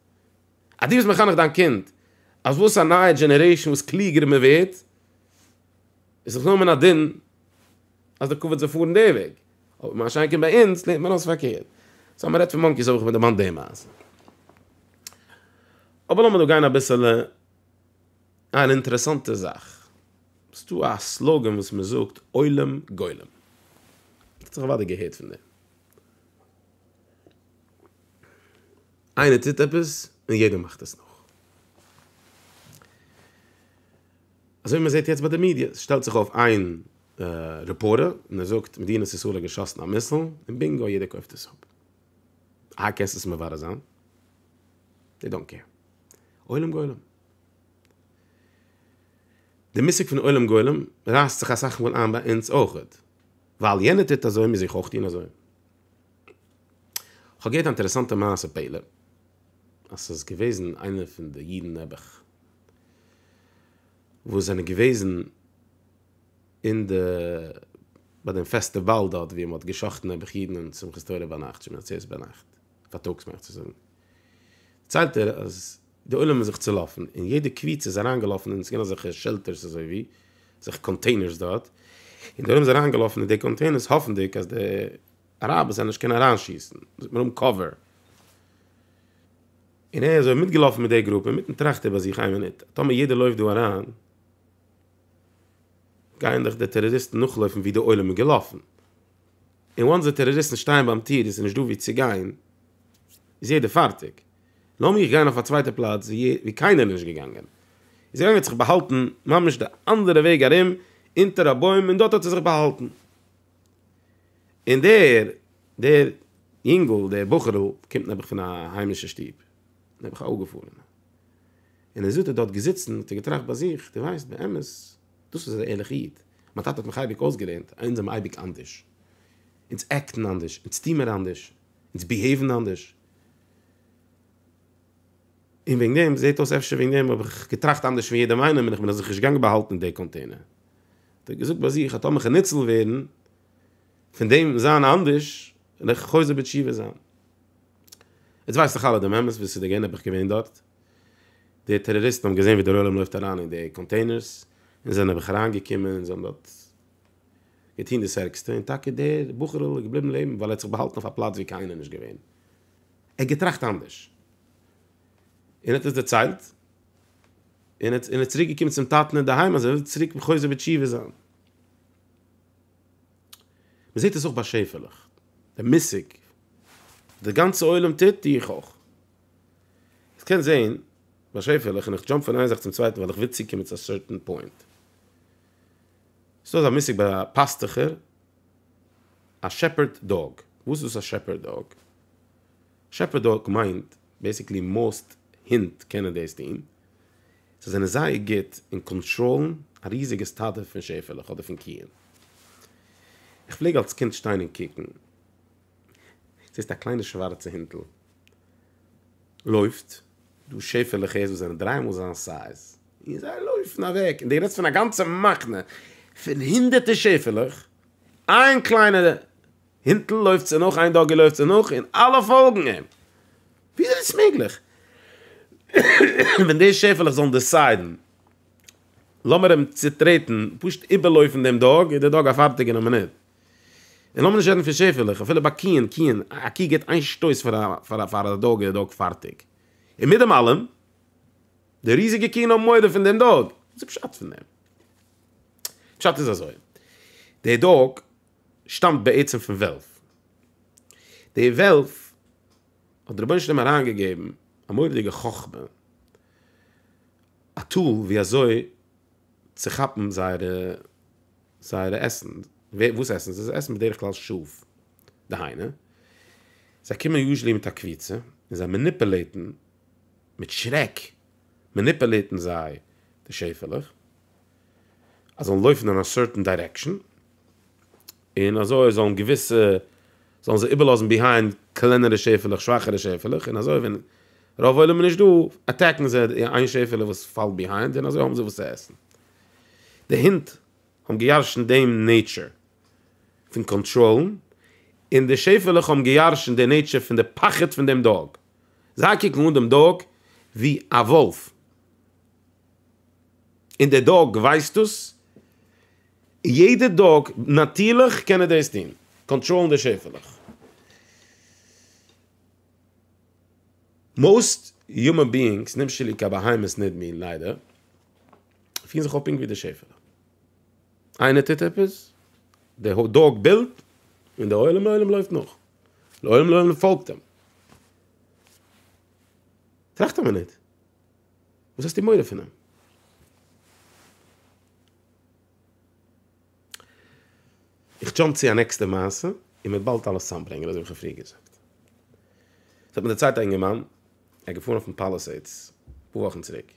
אז דו ביסט מחנך דיין קינד אז וואס א נייע דזשענערעישאן וואס קלוגער מען ווערט איז זיך נאר מן הדין אז די קאווערט זאל פארן די וועג, אבער מה שאין כן ביי אונז לערנט מען אויס פארקערט. סא מען רעדט פון מאנקיס האב איך מיר דערמאנט די מעשה. אבער לאמיר דא גיין אביסעלע אן אינטערעסאנטע זאך. ס'דא א סלאגען וואס מען זאגט עולם גולם. האט זיך אוודאי געהערט פון דעם. איינער טוט עפעס און יעדער מאכט עס נאך. אזוי ווי מען זעט יעצט ביי די מידיע, עס שטעלט זיך אויף איין רעפארטער און ער זאגט מדינת ישראל האט געשאסן א מיסל, און בינגא יעדער קויפט עס אפ. אהה קענסט עס מברר זיין? דעי דאנט קעיר. עולם גולם. די מושג פון עולם גולם רייסט זיך אסאך מאל איין ביי אונז אויכעט. ווייל יענער טוט אזוי מוז איך אויך טון אזוי. כ'האב געהערט א אינטערעסאנטע מעשה פלא אז ס'איז געוועזן איינער פון די אידן נעבעך וואס זענען געוועזן אין די ביי דעם פעסטיוואל דארט ווי מ'האט גע'שחט'ן נעבעך אידן און שמחת תורה ביינאכט שומען עצרת ביינאכט פארטאגס מיין איך צו זאגן דערציילט ער אז די עולם איז זיך צולאפן און יעדע קבוצה איז אריינגעלאפן און עס געווען אזעלכע שעלטערס אזוי ווי אזעלכע קאנטעינערס דארט און די עולם איז אריינגעלאפן אין די קאנטעינערס האפנדיג אז די אראבערס וועלן נישט קענען אריינשיסן און זיי האבן קאווער און ער איז אזוי מיטגעלאפן מיט די גרופע אינמיטן טראכט ער ביי זיך איין מינוט טאמער יעדער לויפט דא אריין גייען דאך די טעראריסטן נאכלויפן ווי די עולם איז געלאפן און וואנס די טעראריסטן שטייען ביים טיר און עס איז נישט דא ווי צו גיין איז יעדער פארטיג. לאמיר גיין אויף א צווייטע פלאץ ווי קיינער איז נישט געגאנגען, איז ער געגאנגען האט זיך באהאלטן ממש די אנדערע וועג ארום אונטער א בוים און דארט האט ער זיך באהאלטן, און דער דער יונגל דער בחור'ל קומט נעבעך פון א היימישע שטוב, נעבעך א אפגעפארענע, און ער זעט דארט דארט געזיצן האט ער געטראכט ביי זיך, דו ווייסט באמת דאס איז א ערליכע איד, מיין טאטע האט מיך אייביג אויסגעלערנט אז אונז זעמער אייביג אנדערש, אונז עקטן אנדערש, אונז טוהן מיר אנדערש, אונז ביהעיוון אנדערש, און וועגן דעם, זעהט אויס אפשר וועגן דעם האב איך געטראכט אנדערש פון יעדעם איינעם און איך בין אזוי נישט געגאנגען באהאלטן אין די קאנטעינער. האט ער געזאגט ביי זיך אז טאמער איך וועל ניצול ווערן פון דעם זיין אנדערש וועל איך חוזר בתשובה זיין. יעצט ווייסט דאך אלע דעם אמת וואס איז געווען אויב איך געווען דארט. די טעראריסטן האבן געזעהן ווי דער עולם לויפט אריין אין די קאנטעינערס און זענען אויך אריינגעקומען און זיי האבן דארט. געטון דאס ערגסטע, און טאקע דער בחור'ל איז געבליבן לעבן ווייל ער האט זיך באהאלטן אויף א פלאץ וואו קיינער איז נישט געווען. ער האט געטראכט אנדערש און האט עס דערציילט, און ער איז צוריק געקומען צום טאטן אינדערהיים אז ער וויל צוריק חוזר בתשובה זיין. מען זעט עס אויך ביי שעפעלעך, די מושג דער גאנצער עולם טוט, טו איך אויך. איך קען זען ביי שעפעלעך און איך דזשאמפ פון איין זאך צום צווייטן ווייל איך וויל צוקומען צו א סערטען פוינט. ס'דא אזא מושג ביי פאסטוכער, א שעפערד דאג, וואס איז דאס א שעפערד דאג? שעפערד דאג מיינט בעסיקלי מאוסט הינט קענען דאס טון, זיי זענען זייער גוט אין קאנטראלן א ריזיגע סטאדע פון שעפעלעך אדער פון קיען. איך פלעג אלס קינד שטיין און קוקן. זעסט א קליינע שווארצע הינטל לויפט, דו שעפעלעך הערסט וואס זענען דריי מאל זיין סייז, און זיי לויפן אוועק, און דו רעדסט פון א גאנצע מחנה פון הונדערטער שעפעלעך, איין קליינע הינטל לויפט צו נאך, איין דאגי לויפט צו נאך, און אלע פאלגן אים, וויאזוי איז דאס מעגליך? ווען די שעפעלעך זאלן דעסיידן לאמיר אים צוטרעטן, פשוט איבערלויפן דעם דאג, איז דער דאג א פארטיגער אין א מינוט. און לאמיר נישט רעדן פון שעפעלעך, אפילו ביי קיען, קיען, א קי גיט איין שטויס פאר א, פאר א, פאר א דאג איז די דאג פארטיג. און מיט דעם אלעם, די ריזיגע קיען האבן מורא פון דעם דאג. וואס איז פשט פון דעם? פשט איז אזוי, די דאג שטאמט בעצם פון וועלף. די וועלף האט די רבונו של עולם אריינגעגעבן א מורא'דיגע חכמה, א טול ווי אזוי צו כאפן זייערע זייערע עסן, וואס עסן זיי? זיי עסן בדרך כלל שאף, דהיינו, זיי קומען יוזשעלי מיט א קבוצה, און זיי מעניפעלעיטן, מיט שרעק מעניפעלעיטן זיי די שעפעלעך, אז זאלן לויפן אין א סערטען דירעקשאן, און אזוי זאלן געוויסע, זאלן זיי איבערלאזן ביהיינד קלענערע שעפעלעך, שוואכערע שעפעלעך, און אזוי ווען רוב עולם איז נישט דא, אטעקן זיי די איין שעפעלע וואס פאלט ביהיינד, און אזוי האבן זיי וואס צו עסן. די הינט האבן געיארשנט דעם נעיטשער פון קאנטראלן, און די שעפעלעך האבן געיארשנט די נעיטשער פון די פחד פון דעם דאג. זיי קוקן אן דעם דאג ווי א וואלף, און דער דאג ווייסט דאס, און יעדע דאג, נאטירליך, קען ער דאס טון, קאנטראלן די שעפעלעך. מאוסט יומען ביאינגס, נמשלים קיין בהמות ניט מין, ליידער, פירן זיך אויף פונקט ווי דער שעפעלע. איינער טוט עפעס, דער האט דאג בילט, און דער עולם לעולם לויפט נאך. לעולם לעולם פאלגט אים. טראכט א מינוט, וואס האסטו מורא פון אים? איך דזשאמפ צו א נעקסטע מעשה און מ'וועט באלד אלעס צוזאמברענגען אזוי ווי כ'האב פריער געזאגט. ס'האט מיר דערציילט א אינגערמאן, ער איז געפארן אויפן פאלעסעידס אפאר וואכן צוריק.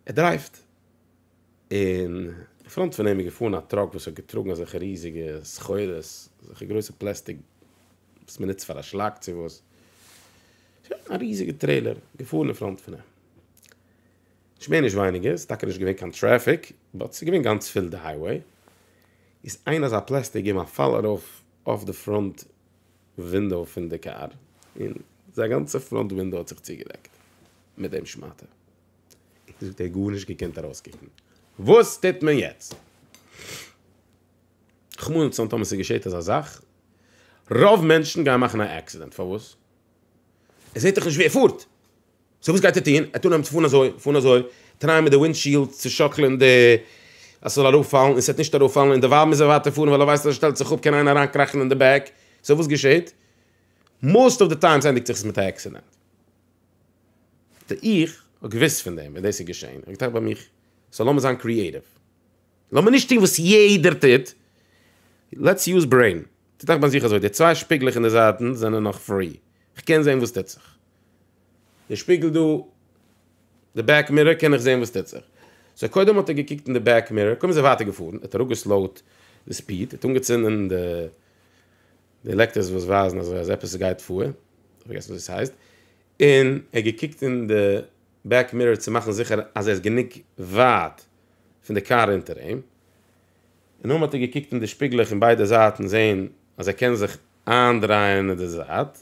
ער דרייווט, און אין פראנט פון אים איז געפארן א טראק וואס האט געטראגן אזעלכע ריזיגע סחורות, אזעלכע גרויסע פלעסטיק וואס מ'נוצט פאר א שלאק צו וואס. שוין, א ריזיגע טרעילער געפארן אין פראנט פון אים. נישט מער נישט ווייניגער, ס'איז טאקע נישט געווען קיין טרעפיק, באט ס'איז געווען גאנץ פיל די הייוועי, איז איין אזא פלעסטיק געבן א פאל ארויף אויף די פראנט ווינדאו פון די קאר, און זיין גאנצע פראנט ווינדאו האט זיך צוגעדעקט מיט דעם שמאטע, און זאגט ער גארנישט געקענט ארויסקוקן, וואס טוט מען יעצט? רחמנא לצלן טאמער ס'איז געשעט אזא זאך, רוב מענטשן גייען מאכן א עקסידענט, פארוואס? ער זעט דאך נישט ווי ער פארט! סאו וואס גייט ער טון? ער וועט אנהייבן צו פארן אזוי, פארן אזוי, טרייען מיט די ווינדשיעלד צו שאקלען די, אז ס'זאל ארויפפאלן, און ס'וועט נישט ארויפפאלן, און דערווייל מוז ער ווייטער פארן, ווייל ער ווייסט אז ער שטעלט זיך אפ קען איינער אריינקראכן אין די בעק, סאו וואס געשעהט? מאסט אוו די טיימס ענדיגט זיך עס מיט א עקסידענט. ט, איך האב געוואוסט פון דעם ווען דאס איז געשעהן, איך האב געטראכט ביי מיך, סאו לאמיר זיין קריעטיוו, לאמיר נישט טון וואס יעדער טוט, לעטס יוז ברעין, טראכט ביי זיך אזוי, די צוויי שפיגלעך אין די זייטן זענען נאך פרי, איך קען זעהן וואס טוט זיך. די שפיגל דא, די בעק מירער קען איך זעהן וואס טוט זיך. סאו קודם האט ער געקוקט אין די בעק מירער, קודם איז ער ווייטער געפארן, ער האט אראפגעסלאוט די ספיד, ער האט אנגעצינדן די די לעקטערס וואס ווייזן אזוי אז עפעס גייט פאר, איך האב פארגעסן וואס עס הייסט, און ער האט געקוקט אין די בעק מירער צו מאכן זיכער אז ער איז גענוג ווייט פון די קאר אונטער אים, און נאכדעם האט ער געקוקט אין די שפיגלעך אין ביידע זייטן זעהן אז ער קען זיך איינדרייען אין די זייט.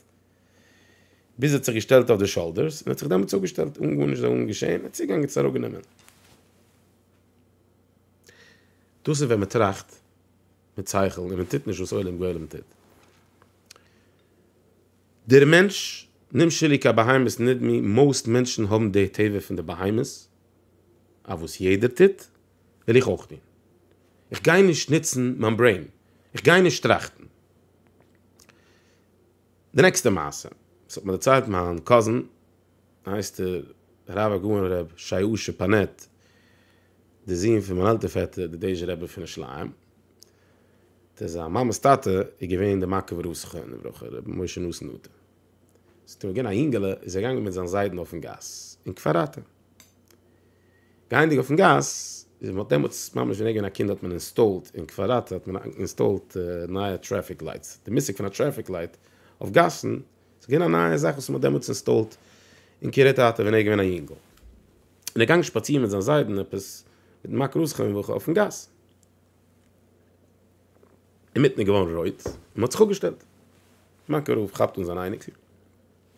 ביז ער האט זיך געשטעלט אויף די שאלדערס און האט זיך דעמאלטס אפגעשטעלט אן גארנישט זאלן געשען, ער האט צוגעגאנגען צו הרהק גענומען. דאס איז ווען מען טראכט מיט שכל און מען טוט נישט וואס עולם גולם טוט. דער מענטש, נמשלי כבהמות נדמי, מאוסט מענטשן האבן די טבע פון די בהמות, אז וואס יעדער טוט וועל איך אויך טון. איך גיי נישט נוצן מיין ברעין, איך גיי נישט טראכטן. די נעקסטע מעשה וואס האט מיר דערציילט מיין קאזין הייסט ער הרב הגאון ר' שייאשע פאנעט דער זון פון מיין עלטער פעטער די דעזשע רבי פון ירושלים ט זיין מאמעס טאטע איז געווען די מקוב ר' זכרון לברכה רבי משה נתן נטע ס'איז געווען א יונגעלע איז ער געגאנגען מיט זיין זיידן אויפן גאס אין כפר אתא. גייענדיג אויפן גאס, מען האט דעמאלטס ממש גענוי געווען א קינד האט מען אינסטאלט אין קוואדראט האט מען אינסטאלט נייע טרעפיק לייטס, די מושג פון א טרעפיק לייט אויף גאסן איז געווען א נייע זאך וואס מען האט דעמאלטס אינסטאלט אין קרית אתא ווען ער איז געווען א יונגל, און ער איז געגאנגען שפאצירן מיט זיין זיידן עפעס מיט מאקרוס כמ וכו' אויפן גאס, אינמיטן איז געווארן רויט און מען האט זיך אפגעשטעלט, מאן קרוב כאפט אן זיין אייניקל.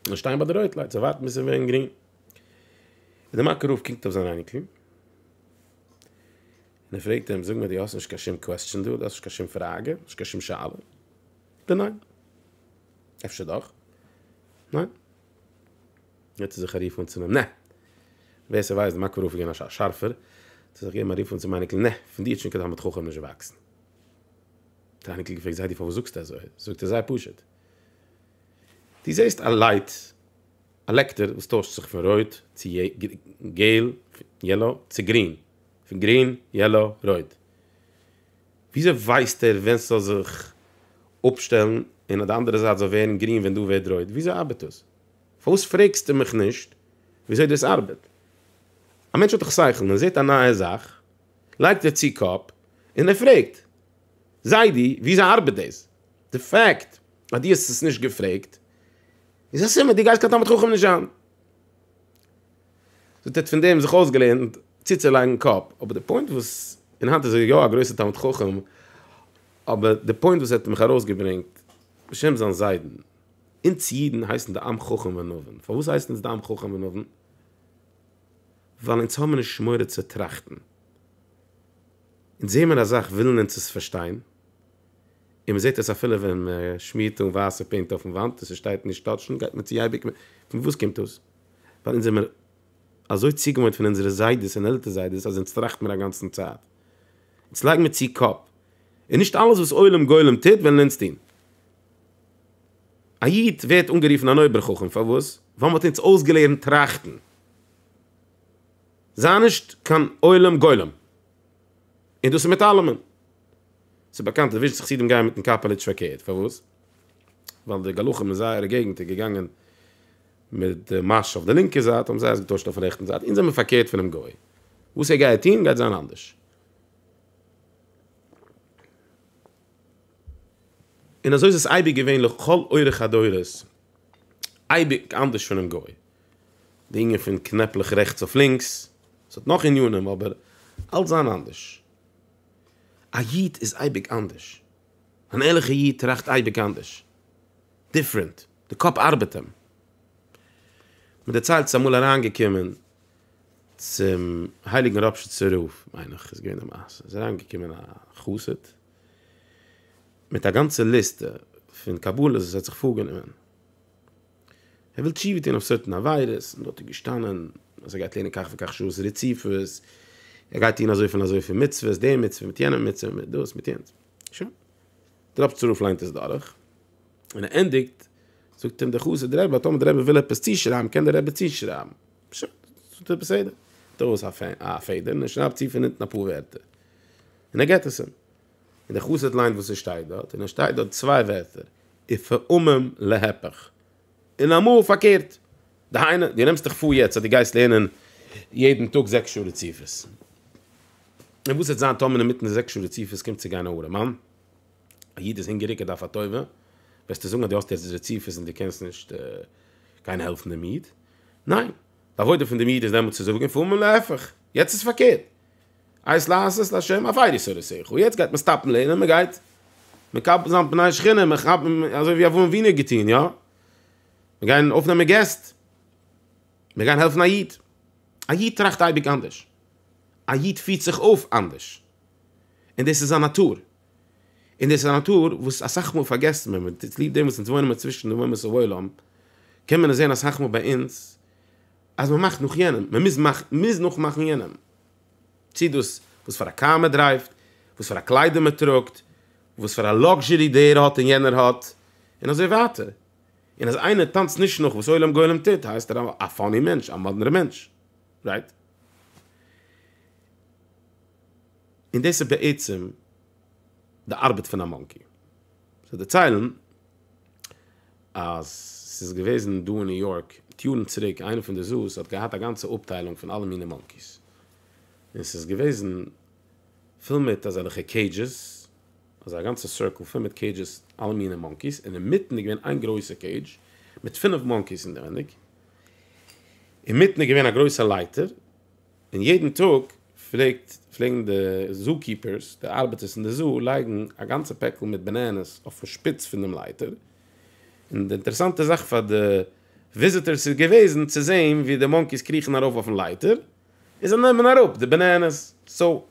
און שטיין ביי די רויט לייט זיי ווארטן ביז עס ווערן גרין און די מאקא רב קוקט אויף זיין אייניקל און ער פרעגט אים זאג מיר די האסט נישט קיין שום קוועסטשען דא די האסט נישט קיין שום פראגע נישט קיין שום שאלה די ניין אפשר דאך ניין יעצט איז זיך א ריף און צו נע ווער עס ווייסט די מאקא רב גענאש א שארפער צו זיך געבן א ריף און צו מייניקל נע פון די צ'ונקעט האמעט חכם נישט וואקסן די אייניקל געפרעגט זיי די פארוואס זאגסטו אזוי זאגט ער זיי פשוט דו זעסט א לייט, א לעקטער וואס טוישט זיך פון רויט צו געל, יעלא, צו גרין, פון גרין, יעלא, רויט. וויאזוי ווייסט ער ווען ס'זאל זיך אפשטעלן און אויף די אנדערע זייט זאל ווערן גרין ווען דא ווערט רויט? וויאזוי ארבעט דאס? פארוואס פרעגסטו מיך נישט וויאזוי דאס ארבעט? א מענטש האט דאך שכל, ווען ער זעט א נייע זאך לייגט ער צו קאפ און ער פרעגט. זיידי, וויאזוי ארבעט דאס? די פאקט אז דו האסט עס נישט געפרעגט איז א סימן דו גייסט קיין תלמיד חכם נישט זיין. זאגט ער האט פון דעם זיך אויסגעלערנט צוצולייגן קאפ, אבער די פוינט וואס, און היינט איז ער יא א גרויסער תלמיד חכם, אבער די פוינט וואס ער האט מיך ארויסגעברענגט בשם זיין זיידן, אונז אידן הייסן די עם חכם ונבון, פארוואס הייסן אונז די עם חכם ונבון? ווייל אונז האבן נישט מורא צו טראכטן. אונז זעהן מיר אזאך ווילן אונז עס פארשטיין, און מען זעהט עס אפילו ווען מען שמירט אן ווייסע פעינט אויפן וואנט און ס'שטייט נישט טאטשן גייט מען צו אייביג מער, פון וואס קומט דאס? ווייל אונז זעמיר אזוי צוגעוואוינט פון אונזערע זיידעס און עלטער זיידעס אז אונז טראכט מיר אגאנצן צייט, אונז לייגן מיר צו קאפ, און נישט אלעס וואס עולם גולם טוט וועלן אונז טון. א איד ווערט אנגערופן אן אויבער חכם פארוואס? ווייל מען האט אונז אויסגעלערנט טראכטן. זיי נישט קיין עולם גולם. און דאס איז מיט אלעמען. ס'איז באקאנט אז וויזשניץ חסידים גייען מיטן קאפעלע נישט פארקערט. פארוואס? ווייל די גלחים אין זייערע געגנטער געגאנגען מיט די מעש אויף די לינקע זייט, האבן זיי עס געטוישט אויפן רעכטן זייט. אונז זעמיר פארקערט פונעם גוי. וואס ער גייעט טון, גייט זיין אנדערש. און אזוי איז עס אייביג געווען לכל אורך הדורות. אייביג אנדערש פונעם גוי. די ענין פון קנעפלעך רעכטס אויף לינקס, עס האט נאך ענינים אבער אלץ זיין אנדערש. א איד איז אייביג אנדערש, אן ערליכע איד טראכט אייביג אנדערש, דיפרענט, די קאפ ארבעט אים. מען דערציילט ס'איז אמאל אריין געקומען צום הייליגן ראפשיצער רב מיין איך איז געווען די מעשה, איז אריין געקומען א חסיד מיט א גאנצע ליסטע פון קבלות וואס ער האט זיך פארגענומען, ער וויל תשובה טון אויף סערטען עבירות, און דארט איז געשטאנען אז ער גייט לערנען כך וכך שעות רציפות, ער גייט טון אזויפיל און אזויפיל מצוות, די מצוה מיט יענע מצוה, מיט דאס מיט יענץ. שוין. דער רב צרוף ליינט עס דורך, און ער ענדיגט, זאגט אים דער חסיד, רבי, אז טאמער דער רבי וויל עפעס צושרייבן, קען דער רבי צושרייבן. שוין. ס'טוט ער בסדר. נעמט ער ארויס א פעדער און ער שרייבט צו פון אונטן אפאר ווערטער. און ער געט עס אים. און דער חסיד ליינט וואס עס שטייט דארט, און עס שטייט דארט צוויי ווערטער, ופעמים להיפך, און אמאל פארקערט, דהיינו, דו נעמסט דיך פאר יעצט אז דו גייסט לערנען יעדן טאג זעקס שעה רציפות, און וואס וועט זיין טאמער אינמיטן די זעקס שעה רציפות קומט צו גיין א ארעמאן, א איד איז הונגעריג ער דארף א טובה, וועסטו זאגן אז דו האסט יעצט רציפות און דו קענסט נישט גיין העלפן דעם איד? ניין, די עבודה פון דעם איד איז דעמאלט צו זאגן ופעמים להיפך, יעצט איז פארקערט. עת לעשות לשם אויף איידיס אוידי שכל, און יעצט גייט מען סטאפן לערנען, מען גייט מקבל זיין פני שכינה, מען כאפ אזוי ווי אברהם אבינו האט געטון יא, מען גיין אויפנעמען געסט, מען גיין העלפן א איד, א איד טראכט אייביג אנדערש, א איד פירט זיך אויף אנדערש, און דאס איז זיין נאטור, און דאס איז א נאטור וואס אסאך מאל פארגעסט מען, און צוליב דעם וואס אונז וואוינען מיר צווישן די אומות העולם, קען מען עס זען אסאך מאל ביי אונז, אז מען מאכט נאך יענעם, מען מוז נאכמאכן יענעם. צי דאס וואס פאר א קאר מען דרייווט, וואס פאר א קליידער מען טראגט, וואס פאר א לאקזשערי דער האט און יענער האט, און אזוי ווייטער. און אז איינער טאנצט נישט נאך וואס עולם גולם טוט, הייסט ער א פאני מענטש, א מאדנערע מענטש. רייט? און דאס איז בעצם. די ארבעט פון א מאנקי. זיי דערציילן אז ס'איז געוועזן דא אין ניו יארק מיט יארן צוריק איינער פון די זו'ס האט געהאט א גאנצע אפטיילונג פון אלע מיני מאנקי'ס. און ס'איז געוועזן פול מיט אזעלעכע קעידזשעס, אזא גאנצע סירקל פול מיט קעידזשעס אלע מיני מאנקי'ס, און אינמיטן איז געווען איין גרויסע קעידזש מיט פינף מאנקי'ס אינעווייניג, אינמיטן איז געווען א גרויסע לייטער, און יעדן טאג פלעגט פלעגן די זו קיפערס, די ארבעטערס אין די זו, לייגן א גאנצע פעקל מיט בענענעס אויפן שפיץ פון דעם לייטער, און די אינטערעסאנטע זאך פאר די וויזיטערס איז געוועזן צו זעהן ווי די מאנקיס קריכן ארויף אויפן לייטער, און זיי נעמען אראפ די בענענעס, סאו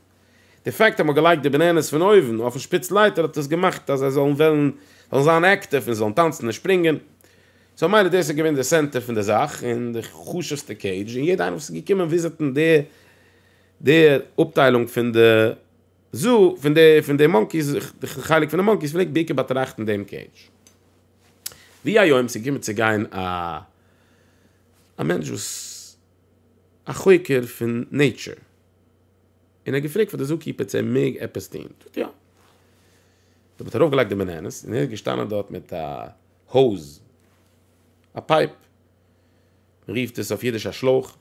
די פאקט אז מ'האט געלייגט די בענענעס פון אויבן אויפן שפיץ לייטער האט עס געמאכט אז זיי זאלן וועלן זאלן זיין עקטיוו און זאלן טאנצן און שפרינגען. סאו מילא דאס איז געווען די סענטער פון די זאך און די חשוב'סטע קעידזש און יעדע איינער וואס איז געקומען וויזיטן די די אפטיילונג פון די זו פון די פון די מאנקיס די חלק פון די מאנקיס פלעגט בעיקר באטראכטן דעם קעידזש. ווי א יום ס'איז געקומען צו גיין א א מענטש וואס א חוקר פון נעיטשור. און ער האט געפרעגט פאר די זוה קיפער צו ער מעג עפעס טון, זאגט יא. דער האט ארויף געלייגט די בענענעס און ער איז געשטאנען דארט מיט א האוז, א פייפ, מען רופט עס אויף אידיש א שלויך,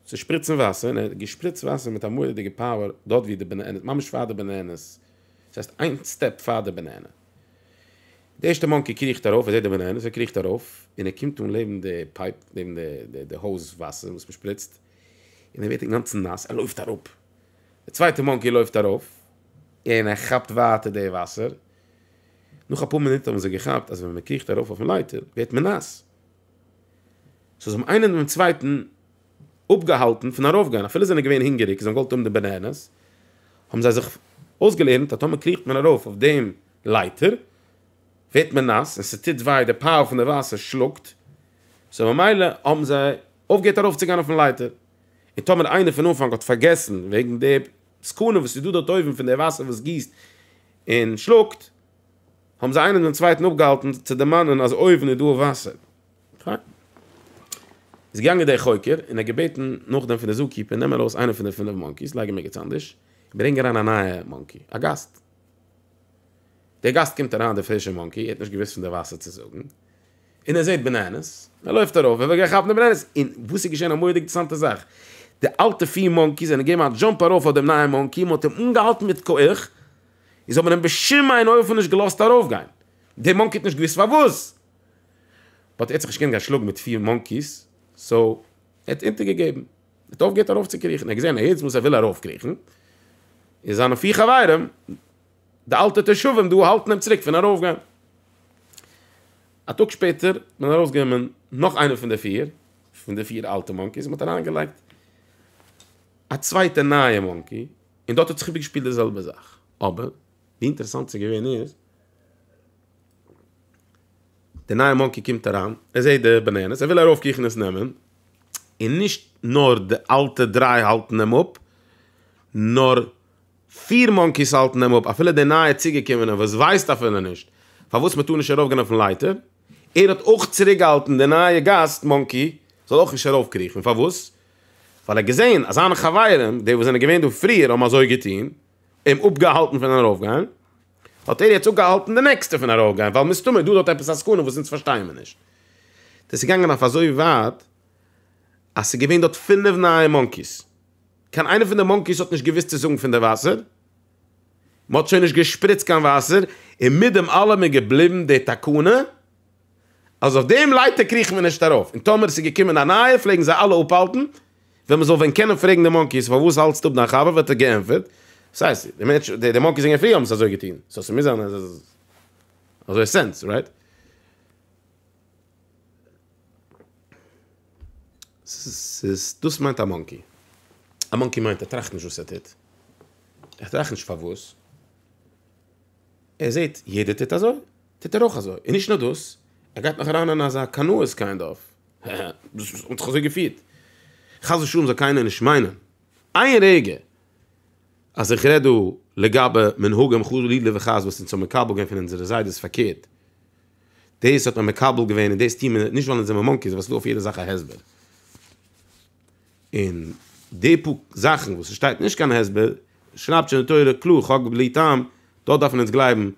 צו שפריצן וואסער, און ער האט געשפריצט וואסער מיט א מורא'דיגע פאוער דארט ווי די בענענעס, ממש פאר די בענענעס, דאס הייסט איין סטעפ פאר די בענענע. די ערשטע מאנקי קריכט ארויף, ער זעט די בענענעס, ער קריכט ארויף, און ער קומט אן לעבן די פייפ, לעבן די האוז וואסער וואס מען שפריצט, און ער ווערט אינגאנצן נאס, ער לויפט אראפ, די צווייטע מאנקי לויפט ארויף, און ער כאפט ווייטער די וואסער, נאך אפאר מינוט האבן זיי געכאפט אז ווען מען קריכט ארויף אויפן לייטער ווערט מען נאס, סאו זיי האבן איינער דעם צווייטן אפגעהאלטן פון ארויפגיין, אפילו זיי זענען געווען הונגעריג, זיי האבן געוואלט האבן די בענענעס, האבן זיי זיך אויסגעלערנט אז טאמער קריכט מען ארויף אויף דעם לייטער ווערט מען נאס און ס'טוט וויי, די פייל פון די וואסער שלאגט, סאו ממילא האבן זיי. אויפגעהערט ארויפצוגיין אויפן לייטער, און טאמער איינער פון אנפאנג האט פארגעסן וועגן די סכנה וואס איז דא דארט אויבן פון די וואסער וואס גיסט און שלאגט, האבן זיי איינער דעם צווייטן אפגעהאלטן צו דערמאנען אז אויבן איז דא וואסער. פיין. איז געגאנגען דער חוקר און ער האט געבעטן נאכדעם פון די זו קיפער נעם ארויס איינער פון די פינף מאנקיס לייג אים ערגעץ אנדערש און ברענג אריין א נייע מאנקי, א גאסט. דער גאסט קומט אריין דער פרישער מאנקי ער האט נישט געוואוסט פון די וואסער צו זאגן. און ער זעט בענענעס, ער לויפט ארויף, ער וויל גיין כאפן די בענענעס, און וואס איז געשען א מורא'דיג אינטערעסאנטע זאך, די אלטע פיר מאנקיס זענען געגעבן א דזשאמפ ארויף אויף דעם נייעם מאנקי, מען האט אים אנגעהאלטן מיט כח, און זיי האבן אים בשום אין אופן נישט געלאזט ארויפגיין, דער מאנקי האט נישט געוואוסט פארוואס, באט ער האט זיך נישט געקענט גיין שלאגן מיט פיר מאנקיס, סאו ער האט אונטערגעגעבן, ער האט אויפגעהערט ארויפצוקריכן, ער האט געזען אז יעצט וואס ער וויל ארויפקריכן, איז זיינע פיר חברים. די אלטע תושבים דא האלטן אים צוריק פון ארויף גיין. א טאג שפעטער איז מען ארויס גענומען נאך איינער פון די פיר, פון די פיר אלטע מאנקיס, מען האט אריין געלייגט א צווייטע נייע מאנקי, און דארט האט זיך איבער געשפילט די זעלבע זאך, אבער ווי אינטערעסאנט ס'איז געווען איז, די נייע מאנקי קומט אריין, ער זעט די בענענעס, ער וויל ארויף קריכן עס נעמען, און נישט נאר די אלטע דריי האלטן אים אפ, נאר פיר מאנקיס האלטן אים אפ, אפילו דער נייער צוגעקומענער וואס ווייסט אפילו נישט פארוואס מען טאר נישט ארויפגיין אויפן לייטער, ער האט אויך צוריקגעהאלטן די נייע גאסט מאנקי זאל אויך נישט ארויפקריכן, פארוואס? ווייל ער האט געזען אז זיינע חברים, די וואס זענען געווען דא פריער האבן אזוי געטון, אים אפגעהאלטן פון ארויפגיין, האט ער יעצט אפגעהאלטן די נעקסטע פון ארויפגיין, ווייל מסתמא איז דא דארט עפעס א סכנה וואס אונז פארשטייען מיר נישט. דאס איז געגאנגען אויף אזוי ווייט אז ס'איז געווען דארט פינף נייע מאנקיס. קיין איינע פון די מאנקיס האט נישט געוואוסט צו זאגן פון די וואסער, מען האט שוין נישט געשפריצט קיין וואסער, און מיט דעם אלעם איז געבליבן די תקנה אז אויף דעם לייטער קריכט מען נישט ארויף, און טאמער עס איז געקומען א נייער פלעגן זיי אלע אפהאלטן, ווען מען זאל ווען קענען פרעגן די מאנקיס פארוואס האלטסטו אפ דיין חבר וואלט ער געענטפערט, וואס הייסט, די מאנקיס זענען פריער האבן עס אזוי געטון, סאו ס'מוז זיין אז עס איז אזוי סענס, רייט? ס'איז, דאס מיינט א מאנקי. א מאנקי מיינט ער טראכט נישט וואס ער טוט. ער טראכט נישט פארוואס. ער זעט יעדער טוט אזוי, טוט ער אויך אזוי. און נישט נאר דאס, ער גייט נאך אריין אין אזא קנאות קיינד אוו. דאס האט זיך אזוי געפירט. חס ושלום זאל קיינער נישט מיינען איין רגע אז איך רעד דא לגבי מנהגים חלילה וחס וואס אונז האבן מקבל געווען פון אונזערע זיידעס פארקערט. דאס האט מען מקבל געווען און דאס טוהן מיר נישט ווייל אונז זעמער מאנקיס ווייל ס'איז דא אויף יעדע זאך א הסבר. און די פאר זאכן וואס ס'שטייט נישט קיין הסבר שרייבט שוין די תורה קלאר חק בלי טעם, דארט דארף מען אונז גלייבן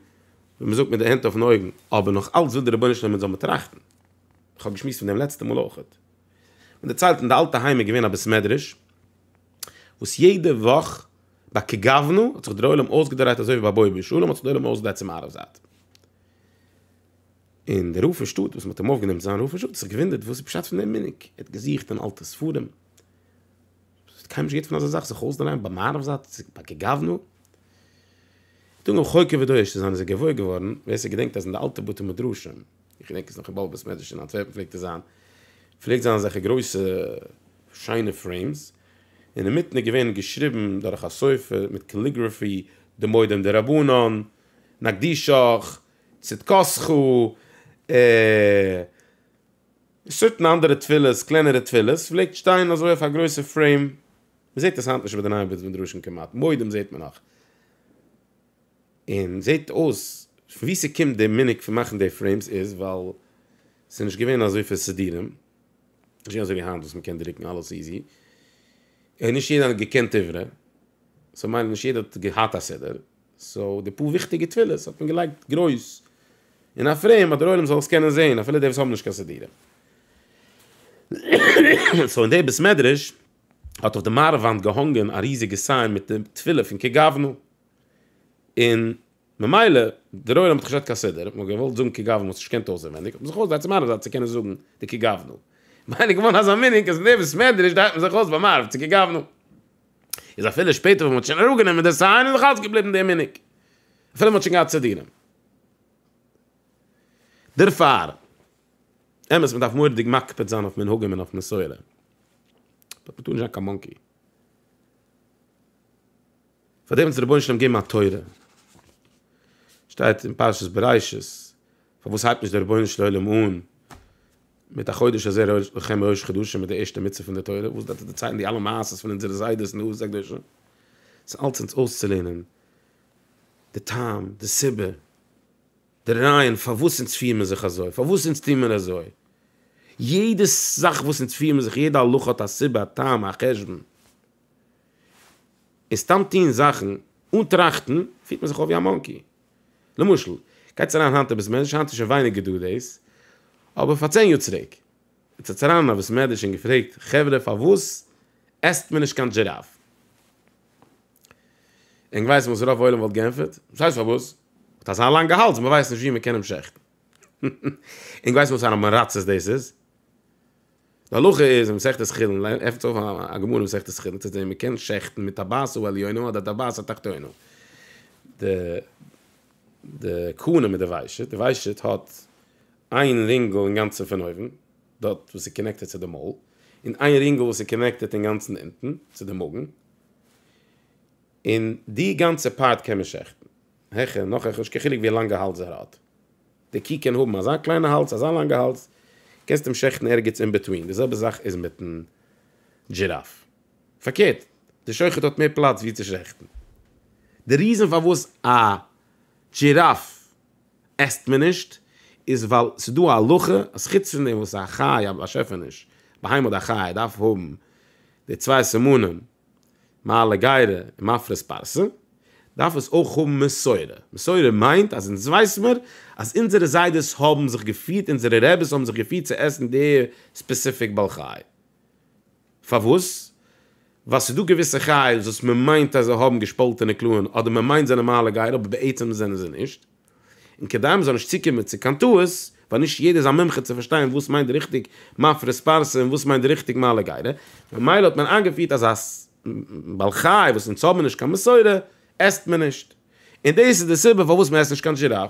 ווי מ'זאגט מיט די הענט אויפן אויגן, אבער נאך אלץ וויל דער רבונו של עולם אונז זאל מען טראכטן. איך האב געשמועסט פון דעם לעצטע מאל אויכעט. מען דערציילט אין די אלטע היים איז געווען א בית מדרש וואס יעדע וואך ביי כגוונא האט זיך דר'עולם אויסגעדרייט אזוי ווי ביי בואי בשלום האט זיך דער עולם אויסגעדרייט צום מערב זייט. און דער רב פון שטאט וואס מען האט אים אויפגענומען צו זיין רב פון שטאט האט זיך געוואונדערט וואס איז פשט פון דעם מנהג, ער האט געזוכט אין אלטע ספרים, עס האט קיינמאל נישט געהערט פון אזא זאך זיך אויסדרייען ביי מעריב זייט ביי כגוונא, טאג און חוקר ודורש צו זיין איז ער געוואויר געווארן, ווער ס'געדענקט אז אין די אלטע בתי מדרשים, איך געדענק עס נאך אין באבוב בית מדרש אין אנטווערפן פלעגט עס זיין, פלעגט זיין אזעלכע גרויסע שיינע פרעימס, אינמיטן איז געווען געשריבן דורך א סופר מיט קעליגראפי דמודם דרבנן. נקדישך, צדקתך, און סרטן אנדערע תפילות, קלענערע תפילות, פלעגט שטיין אזוי אויף א גרויסע פרעים, מען זעט עס היינט נישט ביי די נייע בית מדרשים כמעט, מועדים זעט מען נאך, און זעט אויס פון ווי ס'קומט די מנהג פון מאכן די פרעימס איז ווייל ס'איז נישט געווען אזויפיל סידירים, נישט געווען אזויווי היינט וואס מען קען דרוקן אלעס איזי, און נישט יעדער האט געקענט עברית, סאו מילא נישט יעדער האט געהאט א סידור. סאו די פאר וויכטיגע תפילות האט מען געלייגט גרויס אין א פרעים אז דער עולם זאל עס קענען זעהן אפילו די וואס האבן נישט קיין סידורים. סאו אין די בית מדרש האט אויף די מערב וואנט געהאנגען א ריזיגע סיין מיט די תפילה פון כ ג אבנו און ממילא דער עולם האט נישט געהאט קיין סידור האט מען געוואלט זאגן כ ג אבנו האט מען נישט געקענט אויסענווייניג האט מען זיך אויסגעדרייט צום מערב זייט צו קענען זאגן די כ ג אבנו. ממילא איז געווארן אזא מנהג אז אין די בית מדרש דרייט מען זיך אויס ביי מערב צו כ ג אבנו. איז אפילו שפעטער ווען מען האט שוין אראפ גענומען די סיין איז נאך אלץ געבליבן די מנהג אפילו מען האט שוין געהאט סידורים דערפאר אמת מען דארף מורדיג מקפיד זיין אויף מנהגים און אויף מסורה באט מען טאר נישט זיין קיין מאנקי פאר דעם האט דער רבונו של עולם געגעבן א תורה שטייט אין פרשת בראשית פארוואס הייבט נישט דער רבונו של עולם אן מיט א חודש הזה לכם ראש חדשים מיט די ערשטע מצוה פון די תורה וואס דארף דערציילן די אלע מעשות פון אונזערע זיידעס און אבות הקדושים ס'איז אלץ אונז אויסצולערנען די טעם די סיבה די רעיון פארוואס אונז פירן מיר זיך אזוי פארוואס אונז טוען מיר אזוי יעדע זאך וואס אונז פירן מיר זיך יעדע הלכה האט א סיבה א טעם א חשבון און סתם טון זאכן אן טראכטן פירט מען זיך אויף ווי א מאנקי. למשל, גייטס אריין היינט אביס מעדרש, היינט איז שוין ווייניגער דא דאס, אבער פאר צען יאר צוריק, איז עטס אריין אין א ביס מעדרש און געפרעגט, חברה פארוואס עסט מען נישט קיין דזשיראף? און געווייסט וואס רוב עולם וואלט גענפערט? וואס הייסט פארוואס? האט אזא לאנגע האלז מען ווייסט נישט ווי מען קען אים שעכטן. און געווייסט וואסארא מרצות דאס איז? די הלכה איז אין מסכת חולין, עפנטס אויף א גמרא אין מסכת חולין צו זען מען קען שעכטן מיט טבעת העליונה אדער טבעת התחתונה, די די קנה מיט די וויישעט, די וויישעט האט איין רינגל אינגאנצן פון אויבן דארט וואס איז קאנעקטעד צו די מויל, און איין רינגל וואס איז קאנעקטעד אינגאנצן אונטן צו די מאגן, און די גאנצע פארט קען מען שעכטן, העכער און נאך העכער, נישט קיין חילוק ווי לאנגע האלזער האט. די קו קען האבן אזא קליינע האלז אזא לאנגע האלז, קענסט אים שעכטן ערגעץ אין בעטווין, די זעלבע זאך איז מיטן דזשיראף, פארקערט די שוחט האט מער פלאץ ווי צו שעכטן, די ריזען פארוואס א דזשיראף עסט מען נישט איז ווייל ס'איז דא א הלכה אז חוץ פון דעם וואס א חי א באשעפעניש, ביהמ ד א חי דארף האבן די צוויי סימנים מעלה גרה און מפרש פרסה, דארף עס אויך האבן מסורה, מסורה מיינט אז אונז ווייס מיר אז אונזערע זיידעס האבן זיך געפירט, אונזערע רעבעס האבן זיך געפירט צו עסן די ספעסיפיק בעל חי. פארוואס? ווייל ס'איז דא געוויסע חיות וואס מ'מיינט אז זיי האבן געשפאלטענע קלא'ן אדער מ'מיינט זענען מעלה גרה אבער בעצם זענען זיי נישט. און כדי מען זאל נישט צוקומען צו קיין טעות, ווייל נישט יעדער איז א מומחה צו פארשטיין וואס מיינט ריכטיג מפרס פרסה און וואס מיינט ריכטיג מעלה גרה, ממילא האט מען איינגעפירט אז א בעל חי וואס אונז האבן נישט קיין מסורה, עסט מען נישט. און דאס איז די סיבה פארוואס מען עסט נישט קיין זשיראף.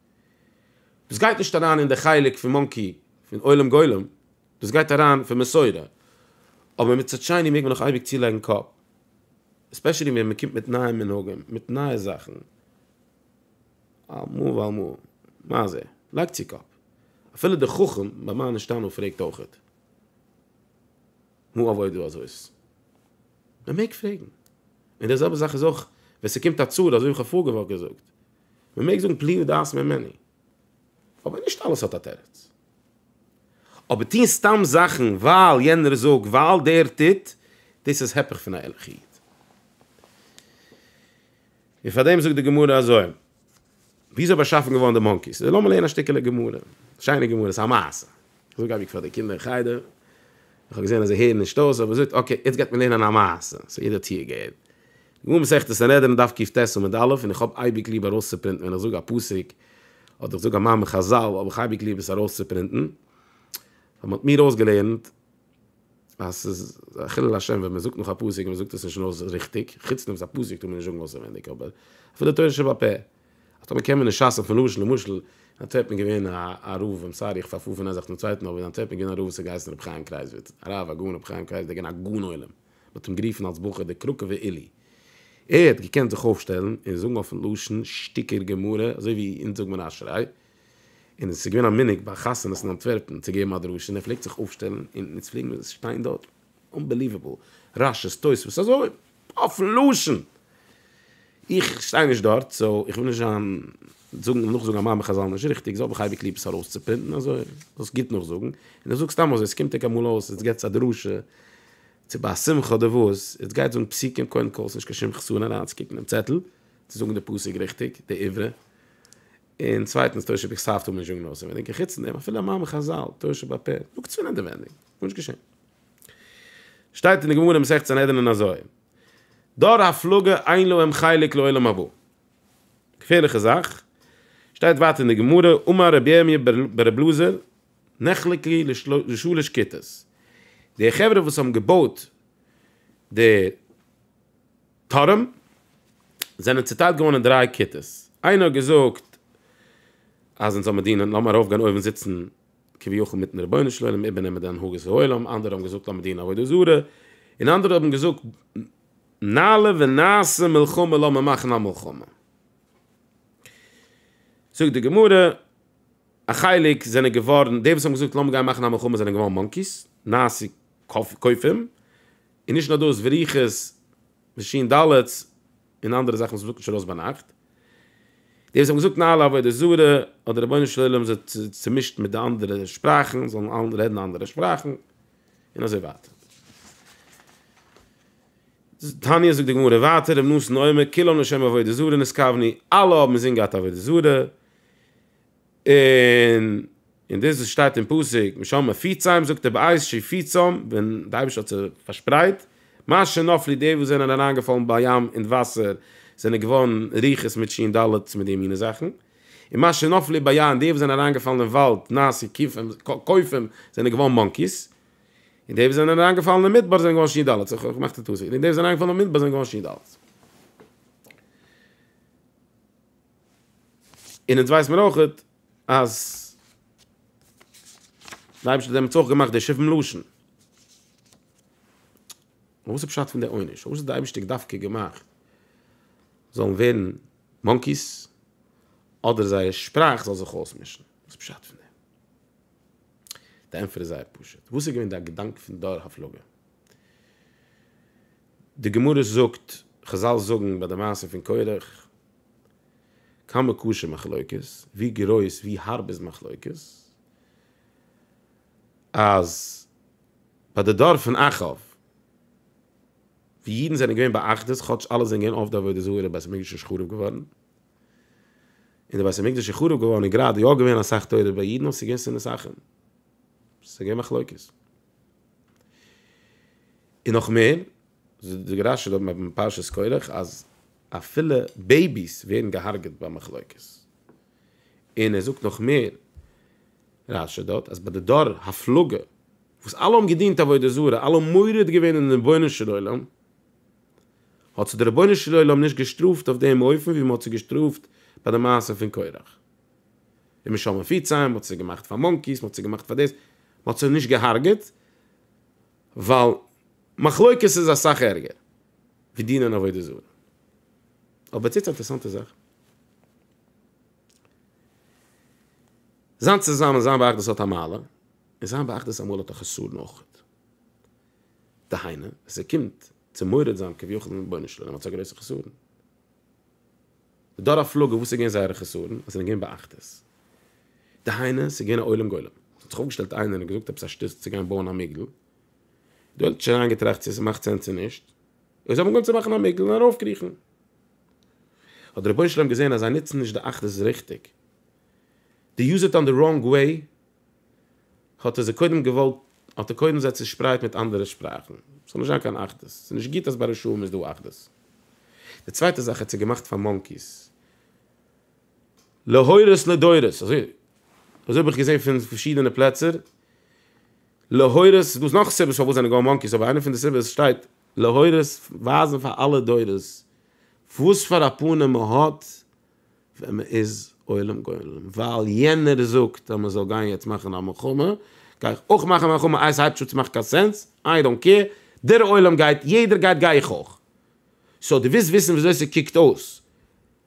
דאס גייט נישט אריין אין די חלק פון מאנקי פון עולם גולם, דאס גייט אריין פון מסורה, אבער מצד שני מעג מען נאך אייביג צולייגן קאפ, עספעשעלי ווען מען קומט מיט נייע מנהגים, מיט נייע זאכן, על מה ועל מה, מה זה, לייג צו קאפ, אפילו דער חכם ביי מה נשתנו פרעגט אויכעט, מה אבוי דא אזויס? מען מעג פרעגן, און די זעלבע זאך איז אויך ווען ס'קומט א צרה, אזוי ווי איך האב פארגעוואך געזאגט, מען מעג זאגן פליאה ודעת ממני, אבער נישט אלעס האט א תירוץ. אבער טוהן סתם זאכן ווייל יענער זאגט, ווייל דער טוט, דאס איז הפך פון א ערליכע איד. און פאר דעם זאגט די גמרא אזוי, וויאזוי איז באשאפן געווארן די מאנקיס? לאמיר לערנען א שטיקעלע גמרא, שיינע גמרא, ס'איז א מעשה. זאג אייביג פאר די קינדער אין חדר, איך האב געזען אז זיי הערן נישט אויס, אבער זאגט אקעי יעצט גייט מען לערנען א מעשה, סאו יעדער האט צוה געהערט. גמרא מסכת סנהדרין דף קיט ט עמוד א', און איך האב אייביג ליב ארויסצופרינטן ווען איך זאג א פסוק, אדער איך זאג א מאמר חזל האב איך אייביג ליב עס ארויסצופרינטן, ווייל מען האט מיר אויסגעלערנט אז ס'איז א חילול השם ווען מען זאגט נאך א פסוק און מען זאגט עס נישט אויס ריכטיג, חוץ נאך א פסוק טאר מען נישט זאגן אויסעווענדיג אבער אפילו תורה שבעל פה. אז טאמער קען מען נישט שאצן פון למשל למשל אנטווערפן איז געווען א רב איים סארי איך פארפאר פון איין זאך צום צווייטן אבער אין אנטווערפן איז געווען א רב וואס האט געהייסן רבי חיים קרייזוויץ א רב א גאון רבי חיים קרייזוויץ איז געווען א גאון עולם מען האט אים גערופן אלס בחור דער קראקעווער עילי ער האט געקענט זיך אויפשטעלן און זאגן אויפן לשון שטיקער גמרא אזוי ווי אונז זאגט מען אשריי און עס איז געווען א מנהג ביי חתונות אין אנטווערפן צו געבן א דרשה און ער פלעגט זיך אויפשטעלן און אונז פלעגן מיר שטיין דארט אנבעליוועבל, רשי, תוספות, אזוי אויפן לשון! איך שטיי נישט דארט, סאו איך וויל נישט זיין זאגן נאכזאגן א מאמר חזל נישט ריכטיג, סאו האב איך אייביג ליב עס ארויסצופרינטן, אזוי זאלסט גוט נאכזאגן, און איך זאג סתם אזוי, עס קומט ענק אמאל אויס, עטס געטס א דרשה, צו ביי א שמחה אדער וואס, עטס גייט זאגן פסוקים, קודם כל, עס איז נישט קיין שום חסרון אריינצוקוקן אין צעטל, צו זאגן די פסוק ריכטיג, די עברה, און צווייטנס, תשב ח סאפט האב איך נישט אנגענויסען אינעווייניג, און חוץ פון דעם, אפילו א מאמר חזל, תשב ע פ, זאגטס פון אינעווייניג. גארנישט געשען. שטייט אין די גמרא מסכת סנהדרין אזוי, דור הפלגה אין להם חלק לעולם הבא. געפערליכע זאך. שטייט ווייטער אין די גמרא, אמר רבי ירמיה בר רבי אלעזר, נחלק לי לשלש כיתות. די חברה וואס האבן געבויט די טורעם, זענען צוטיילט געווארן אין דריי כיתות. איינער האט געזאגט, אז אונז האבן דינען, לאמיר ארויפגיין אויבן זיצן, כביכול מיטן רבונו של עולם איבערנעמען די הנהגת העולם, אנדערע האבן געזאגט א מדינה עבודה זרה, און אנדערע האבן געזאגט נעלה ונעשה מלחמה לאמיר מאכן א מלחמה. זאגט די גמרא, א חלק זענען געווארן, די וואס האבן געזאגט לאמיר גיין מאכן א מלחמה זענען געווארן מאנקיס, נעשה כופים, און נישט נאר דאס וריחות ושין דלת, און אנדערע זאכן וואס מען זאגט נישט ארויס ביינאכט, די וואס האבן געזאגט נאר על עבודה זרה האט דער רבונו של עולם זיי צומישט מיט די אנדערע שפראכן, זאלן אלע רעדן אנדערע שפראכן, און אזוי ווייטער. תניא זאגט די גמרא ווייטער רב נתן אומר כולם לשם עבודה זרה נתכווני, אלע האבן אינזין געהאט עבודה זרה, און און דאס וואס שטייט אין פסוק משום מה פיציים זאגט דער בעש ט פיצום ווען די אייבערשטער האט זיך פארשפרייט, מה שנפלי די וואס זענען אריינגעפאלן בים אין וואסער זענען געווארן רוחות מיט שין ד' מיט די מינע זאכן, און מה שנפלי ביין די וואס זענען אריינגעפאלן אין וואלד נעשו קופים קופים זענען געווארן מאנקיס, און די וואס זענען אריינגעפאלן אין מדבר זענען געווארן שין ד' איך האב געמאכט א טעות, און די וואס זענען אריינגעפאלן אין מדבר זענען געווארן שין ד'. און אונז ווייס מיר אויך אז די אייבערשטער האט דעמאלטס אויך געמאכט די שבעים לשון. אבער וואס איז פשט פון די עונש? פארוואס האט די אייבערשטער דווקא געמאכט זאלן ווערן מאנקיס אדער זייער שפראך זאל זיך אויסמישן? וואס איז פשט פון דעם? די ענטפער איז זייער פשוט. וואס איז געווען די געדאנק פון דור הפלגה? די גמרא זאגט, חזל זאגן ביי די מעשה פון קורח, כמה קשה מחלוקת, ווי גרויס, ווי הארב איז מחלוקת, אז ביי די דור פון אחאב, ווי אידן זענען געווען באחדות, כאטש אלע זענען געווען עובדי עבודה זרה, די בית המקדש איז חרוב געווארן, און די בית המקדש איז חרוב געווארן איז גראדע יא געווען אסאך תורה ביי אידן, אבער ס'איז געווען שנאת אחים, ס'איז געווען מחלוקת. און נאך מער, זאגט דער רשי דארט אין פרשת קרח אז אפילו בעיביס ווערן געהארגעט ביי מחלוקת, און ער זאגט נאך מער רשי דארט אז ביי די דור הפלגה וואס אלע האבן געדינט עבודה זרה, אלע האבן מורד געווען אין רבונו של עולם, האט זיי דער רבונו של עולם נישט געשטראפט אויף דעם אופן ווי מען האט זיי געשטראפט ביי די מעשה פון קרח. די משלמים פיציים, מ'האט זיי געמאכט פאר מאנקיס, מ'האט זיי געמאכט פאר דאס, מ'האט זיי נישט געהארגעט, ווייל מחלוקת איז אסאך ערגער ווי דינען עבודה זרה. אבער טוט א אינטערעסאנטע זאך. זיין צוזאמען זיין באחדות האט א מעלה, און זיין באחדות אמאל האט א חסרון אויך. דהיינו, עס קומט צו מורד זיין כביכול אין רבונו של עולם האט עס א גרויסע חסרון. די דור הפלגה וואס איז געווען זייערע חסרון אז זיי זענען געווען באחדות? דהיינו ס'איז געווען א עולם גולם ס'האט זיך אויפגעשטעלט איינער און געזאגט עפעס א שטות צו גיין בויען א מגדל דו האט שוין איינגעטראכט צו ס'מאכט סענס צו נישט און זיי האבן אנגעהויבן צו מאכן א מגדל און ארויפקריכן האט דער רבונו של עולם געזען אז זיי נוצן נישט די אחדות ריכטיג די יוז איט אן די ראנג וועי האט ער זיי קודם געוואלט, האט ער קודם זיי צושפרייט מיט אנדערע שפראכן, ס'זאל נישט זיין קיין אחדות, ס'איז נישט גוט אז ביי רשעים איז דא אחדות. די צווייטע זאך האט ער געמאכט פאר מאנקיס. להורות לדורות, אזוי אזוי האב איך געזען פון פארשידענע פלעצער, להורות, ס'איז דא נאך סיבות פארוואס זענען געווארן מאנקיס, אבער איינע פון די סיבות שטייט, להורות, ווייזן פאר אלע דורות וואס פאר א פנים מען האט, ווען מען איז עולם גולם, ווייל יענער זאגט אז מען זאל גיין יעצט מאכן א מלחמה, גיי איך אויך מאכן א מלחמה, איי עס הייבט שוין צו מאכן קיין סענס, איי דאנט קעיר, דער עולם גייט, יעדער גייט גיי איך אויך. סאו דו ווילסט וויסן וויאזוי ס'קוקט אויס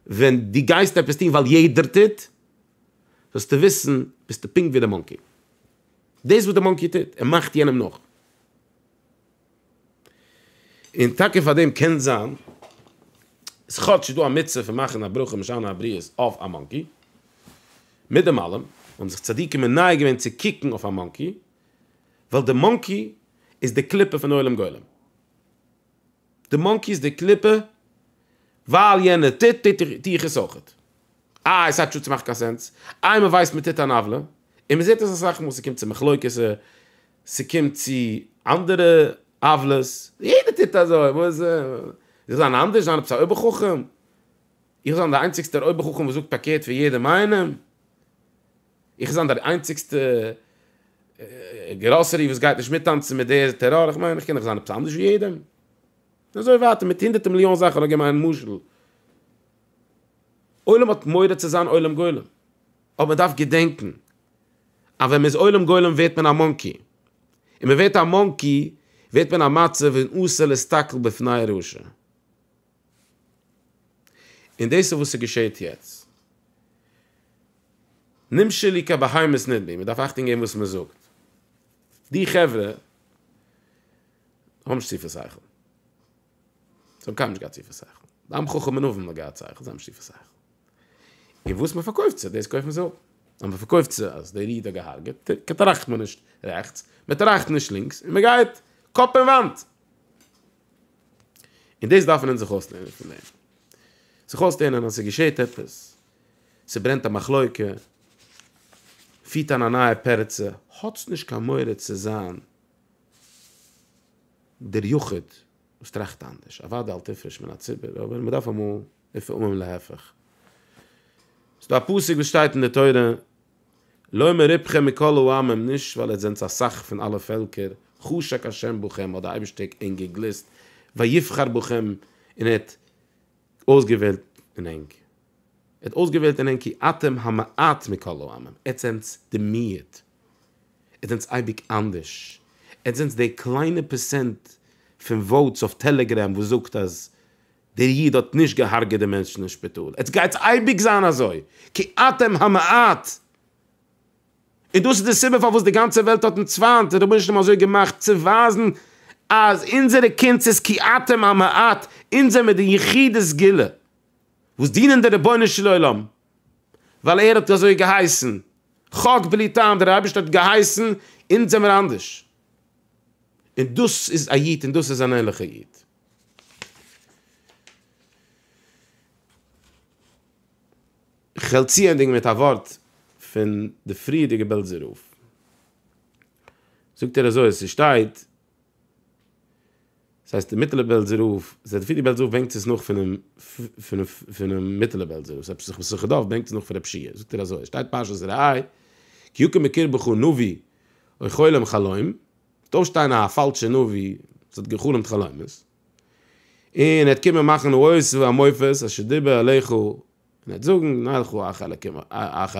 ווען דו גייסט עפעס טון ווייל יעדער טוט, זאלסטו וויסן ביסטו פונקט ווי די מאנקי, דאס וואס די מאנקי טוט, ער מאכט יענעם נאך. און טאקע פאר דעם קען זיין איז כאטש דא א מצוה פון מאכן א ברכה משנה הבריות אויף א מאנקי, מיט דעם אלעם האבן זיך צדיקים מנייע געווען צו קוקן אויף א מאנקי, ווייל די מאנקי איז די קליפה פון עולם גולם, די מאנקי איז די קליפה, ווייל יענער טוט טו איך עס אויך, איי עס האט מאכט קיין סענס, איי מען ווייסט מען טוט אן עוולה, און מען זעט עס אסאך מאל, ס'קומט צו מחלוקת. ס'קומט צו אנדערע עוולות, יעדער טוט אזוי, וואס איך זאל זיין אנדערש? זיין עפעס א אויבערחכם? איך זיין דער איינציגסטער אויבערחכם וואס זאגט פארקערט פון יעדעם איינעם? איך זיין דער איינציגסטע גראסערי וואס גייט נישט מיטטאנצן מיט דער טעראר? איך מיין, איך קען דאך זיין עפעס אנדערש ווי יעדעם? און אזוי ווייטער מיט הונדערטער מיליאן זאכן, נאר געבן איין משל. עולם האט מורא צו זיין עולם גולם. אבער מ'דארף געדענקן אז ווען מ'איז עולם גולם ווערט מען א מאנקי, און מ'ווערט א מאנקי ווערט מען א מצב און אסור להסתכל בפני הרשע. און דאס איז וואס ס'געשעהט יעצט. נמשל לי כבהמות נדבי, מ'דארף אכטונג געבן וואס מ'זאגט. די חברה האבן נישט צופיל שכל. זיי האבן קיינמאל נישט געהאט טיפע שכל. די עם חכם אין אויבן האט געהאט שכל, זיי האבן נישט טיפע שכל. און וואס מען פארקויפט צו, דאס קויפן זיי אפ. אז מען פארקויפט צו אז דער איד האט געהארגעט, טראכט מען נישט רעכטס, מען טראכט נישט לינקס, און מען גייט קאפ אין וואנט. און דאס דארפן אונז זיך אויסלערנען פון דעם. זיך אויסלערנען אז ס'געשעהט עפעס, ס'ברענט א מחלוקה, פירט אן א נייע פרצה, האטס נישט קיין מורא צו זיין, דער יחיד וואס טראכט אנדערש, אוודאי אל תפרוש מן הציבור, אבער מען דארף אמאל לפעמים להיפך. ס'איז דא א פסוק וואס שטייט אין די תורה, לא מרובכם מכל העמים, נישט ווייל איר זענטס א סך פון אלע פעלקער, חשק ה' בכם, האט דער אייבערשטער ענק געגליסט, ויבחר בכם, און ער האט אויסגעוועלט אין ענק. ער האט אויסגעוועלט אין ענק כי אתם המעט מכל העמים, עטס זענטס די מיעוט, עטס זענטס אייביג אנדערש, עטס זענטס די קליינע פערסענט פון וואוטס אויף טעלעגרעם וואס זאגט אז דער איד האט נישט געהארגעט די מענטשן אין שפיטאל, עטס גייטס אייביג זיין אזוי, כי אתם המעט, און דאס איז די סיבה פארוואס די גאנצע וועלט האט אונז פיינט, און רבונו של עולם אזוי געמאכט צו ווייזן אז אונזערע קונץ איז כי אתם המעט, אונז זעמיר די יחידי סגולה. וואס דינען דער רבונו של עולם ווייל ער האט אזוי געהייסן, חק בלי טעם, דער אייבערשטער האט געהייסן, אונז זעמיר אנדערש, און דאס איז א איד און דאס איז אן ערליכער איד. כ'וועל צוענדיגן מיט א ווארט פון די פריערדיגע בעלזער רב, זאגט ער אזוי, ס'שטייט, דאס הייסט די מיטעלע בעלזער רב, זייט ווי די בעלזער רב בענקט עס נאך פונעם פונעם מיטעלע בעלזער רב, עפעס זיך מסכת דף בענקט עס נאך פון רב שיע, זאגט ער אזוי, שטייט פרשת ראה, כי יקום מקרבך נביא אוי חולם חלום, וועט אויפשטיין א פאלשע נביא וואס האט גע'חלומ'ט חלומות, און ער וועט קומען מאכן נאות ומופת, אשר דיבר עליך, און ער וועט זאגן, נלכו אחר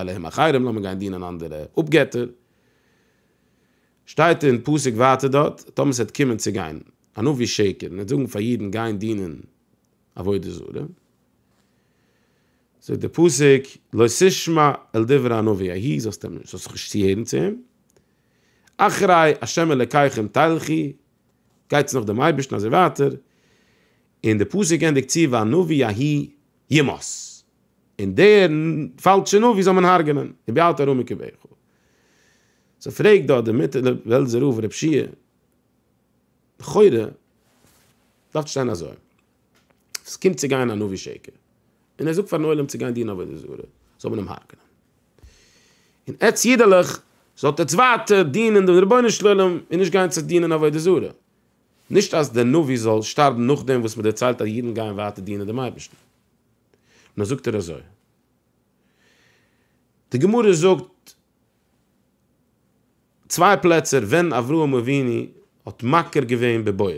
אלהים אחרים, לאמיר גיין דינען אנדערע אפגעטער. שטייט אין פסוק ווייטער דארט, טאמער ס'וועט קומען צו גיין א נביא שקר און ער וועט זאגן פאר אידן גיין דינען עבודה זרה, זאגט דער פסוק, לא תשמע אל דברי הנביא ההיא, זאלסט אים נישט, זאלסט זיך נישט צוהערן צו אים, אחרי ה' אלקיכם תלכי, גייטס נאך דעם אייבערשטן אזוי ווייטער, און דער פסוק ענדיגט צו והנביא ההיא ימות, און דער פאלט שוין אויף ווי זאל מען הרג'נען און ביי אלט ארומיגע וכו'. סאו פרעגט דארט דער מיט דער בעלזער רב ר' פשי' לכאורה דארף שטיין אזוי עס קומט צו גיין א נביא שקר און ער זאגט פארן עולם צו גיין דינען עבודה זרה זאל מען אים הרג'נען און עטץ אידעלעך זאלט עטץ ווייטער דינען דעם רבונו של עולם און נישט גיין צו דינען עבודה זרה נישט אז דער נביא זאל שטארבן נאכדעם וואס מען דערציילט אז אידן גייען ווייטער דינען דעם אייבערשטן. נאר זאגט ער אזוי, די גמרא זאגט צוויי פלעצער ווען אברהם אבינו האט מכיר געווען בבורא,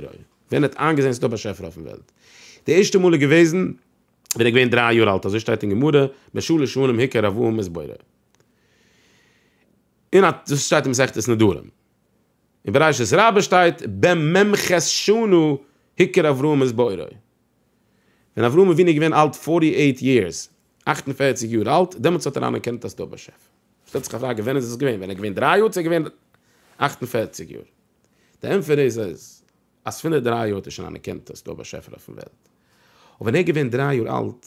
ווען ער האט איינגעזען ס'דא באשעפער אויפן וועלט, די ערשטע מאל איז געוועזן ווען ער איז געווען דריי יאר אלט, אזוי שטייט אין גמרא, בשלש שנים היכר אברהם את בורא. אין א דאס שטייט אין מסכת נדרים. אין בראשית רבה שטייט במ ח שנה היכר אברהם את בורא. ווען אברהם אבינו איז געווען אלט פֿאָרטי אייט יערס, אַכט און פֿערציק יאר אלט, דעמאלטס האט ער אנערקענט אז ס'דא באשעפער. שטעלט זיך א פראגע, ווען איז עס געווען? ווען ער איז געווען דרײַ יאר צו ער איז געווען אַכט און פֿערציק יאר? די ענטפער איז אז פון די דרײַ יאר האט ער שוין אנערקענט אז ס'דא באשעפער אויפן וועלט. און ווען ער איז געווען דרײַ יאר אלט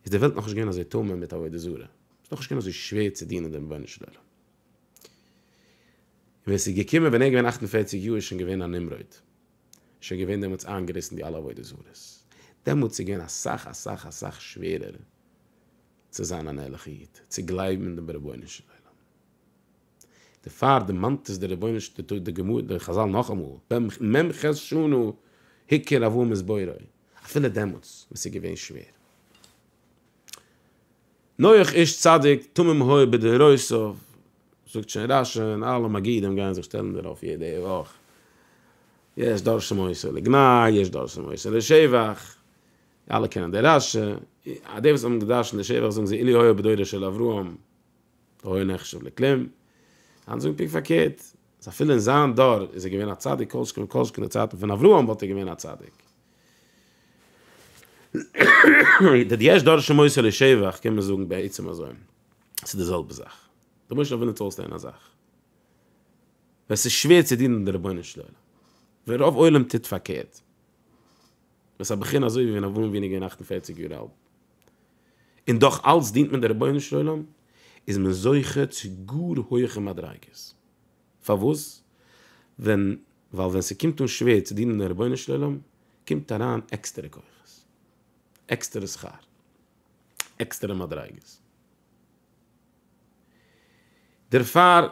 איז די וועלט נאכנישט געווען אזוי טמא מיט עבודה זרה, ס'איז נאכנישט געווען אזוי שווער צו דינען דעם רבונו של עולם. ווען ס'איז געקומען ווען ער איז געווען אַכט און פֿערציק יאר איז שוין געווען א נמרוד, איז שוין געווען דעמאלטס איינגעריסן די אלע עבודה זרות, דעמאלטס איז געווען אסאך אסאך אסאך שווערער צו זיין אן ערליכע איד, צו גלייבן אין דעם רבונו של עולם. דערפאר דערמאנט עס דער רבונו של עולם, די גמרא, די חז ל נאכאמאל, מ ח שנה היכר אברהם את בוראו, אפילו דעמאלטס ווען ס'איז געווען שווער. נוח איש צדיק תמים היה בדוריו, זאגט שוין רשי און אלע מגידים גייען זיך שטעלן דערויף יעדע וואך, יש דורשים מוסר לגנאי, יש דורשים מוסר לשבח, אלע קענען די רשי, די וואס האבן געדרשנט לשבח זאגן זיי אילו היה בדורו של אברהם היה נחשב לכלים, אנדערע זאגן פונקט פארקערט, אז אפילו אין זיין דור איז ער געווען א צדיק כל שכן וכל שכן אין די צייטן פון אברהם וואלט ער געווען א צדיק. די יש דורשין מוסר לשבח קען מען זאגן בעצם אזוי, ס'איז די זעלבע זאך, דו מוזט נאר ווילן צואויסלערנען א זאך, ווען ס'איז שווער צו דינען די רבונו של עולם, ווען רוב עולם טוט פארקערט, ווען ס'איז א בחינה אזוי ווי ווען אברהם אבינו איז געווען אַכט און פֿערציק יאר אלט, און דאך אלץ דינט מען די רבונו של עולם, איז מען זוכה צו גאר הויעכע מדריגות. פארוואס? ווען ווייל ווען ס'קומט אן שווער צו דינען דעם רבונו של עולם קומט אריין עקסטערע כוחות, עקסטערע שכר, עקסטערע מדריגות. דערפאר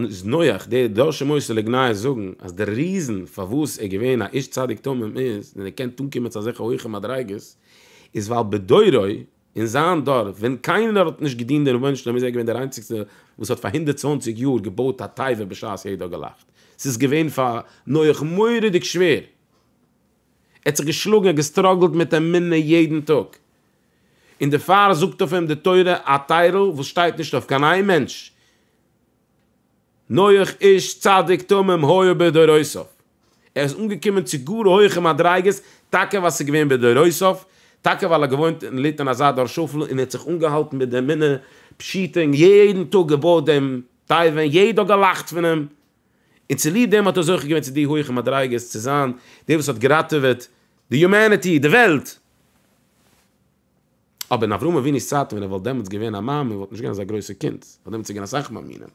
איז נוח די דור שמות לגנאי זאגן אז די ריזן פארוואס ער איז געווען א איש צדיק תמים איז, און ער קען אנקומען צו אזעלכע הויכע מדריגות, איז ווייל בדורו אין זיין דור, ווען קיינער האט נישט געדינט די רבונו של עולם איז ער געווען דער איינציגסטער וואס האט פאר הונדערט צוואַנציק יאר געבויט א תיבה בשעת יעדער האט געלאכט, ס'איז געווען פאר נח מורא'דיג שווער, ער האט זיך געשלאגן, ער האט געסטראגלט מיט אמונה יעדן טאג, און דערפאר זאגט אויף אים די תורה א טיירל וואס שטייט נישט אויף קיין איין מענטש, נוח איש צדיק תמים היה בדורותיו, ער איז אנגעקומען צו גאר הויכע מדריגות טאקע ווייל עס איז געווען בדורותיו, טאקע ווייל ער האט געוואוינט און געליטן אין אזא דור שפל און ער האט זיך אנגעהאלטן מיט די אמונה פשוטה און יעדן טאג געבויט דעם תיבה און יעדער האט געלאכט פון אים, און צוליב דעם האט ער זוכה געווען צו די הויכע מדריגות צו זיין דער וואס האט געראטעוועט די יומעניטי, די וועלט. אבער אין אברהם אבינו'ס צייטן ווען ער וואלט דעמאלטס געווען א מאמין וואלט נישט געווען אזא גרויסע קינד, ווייל דעמאלטס איז געווען אסאך מאמינים,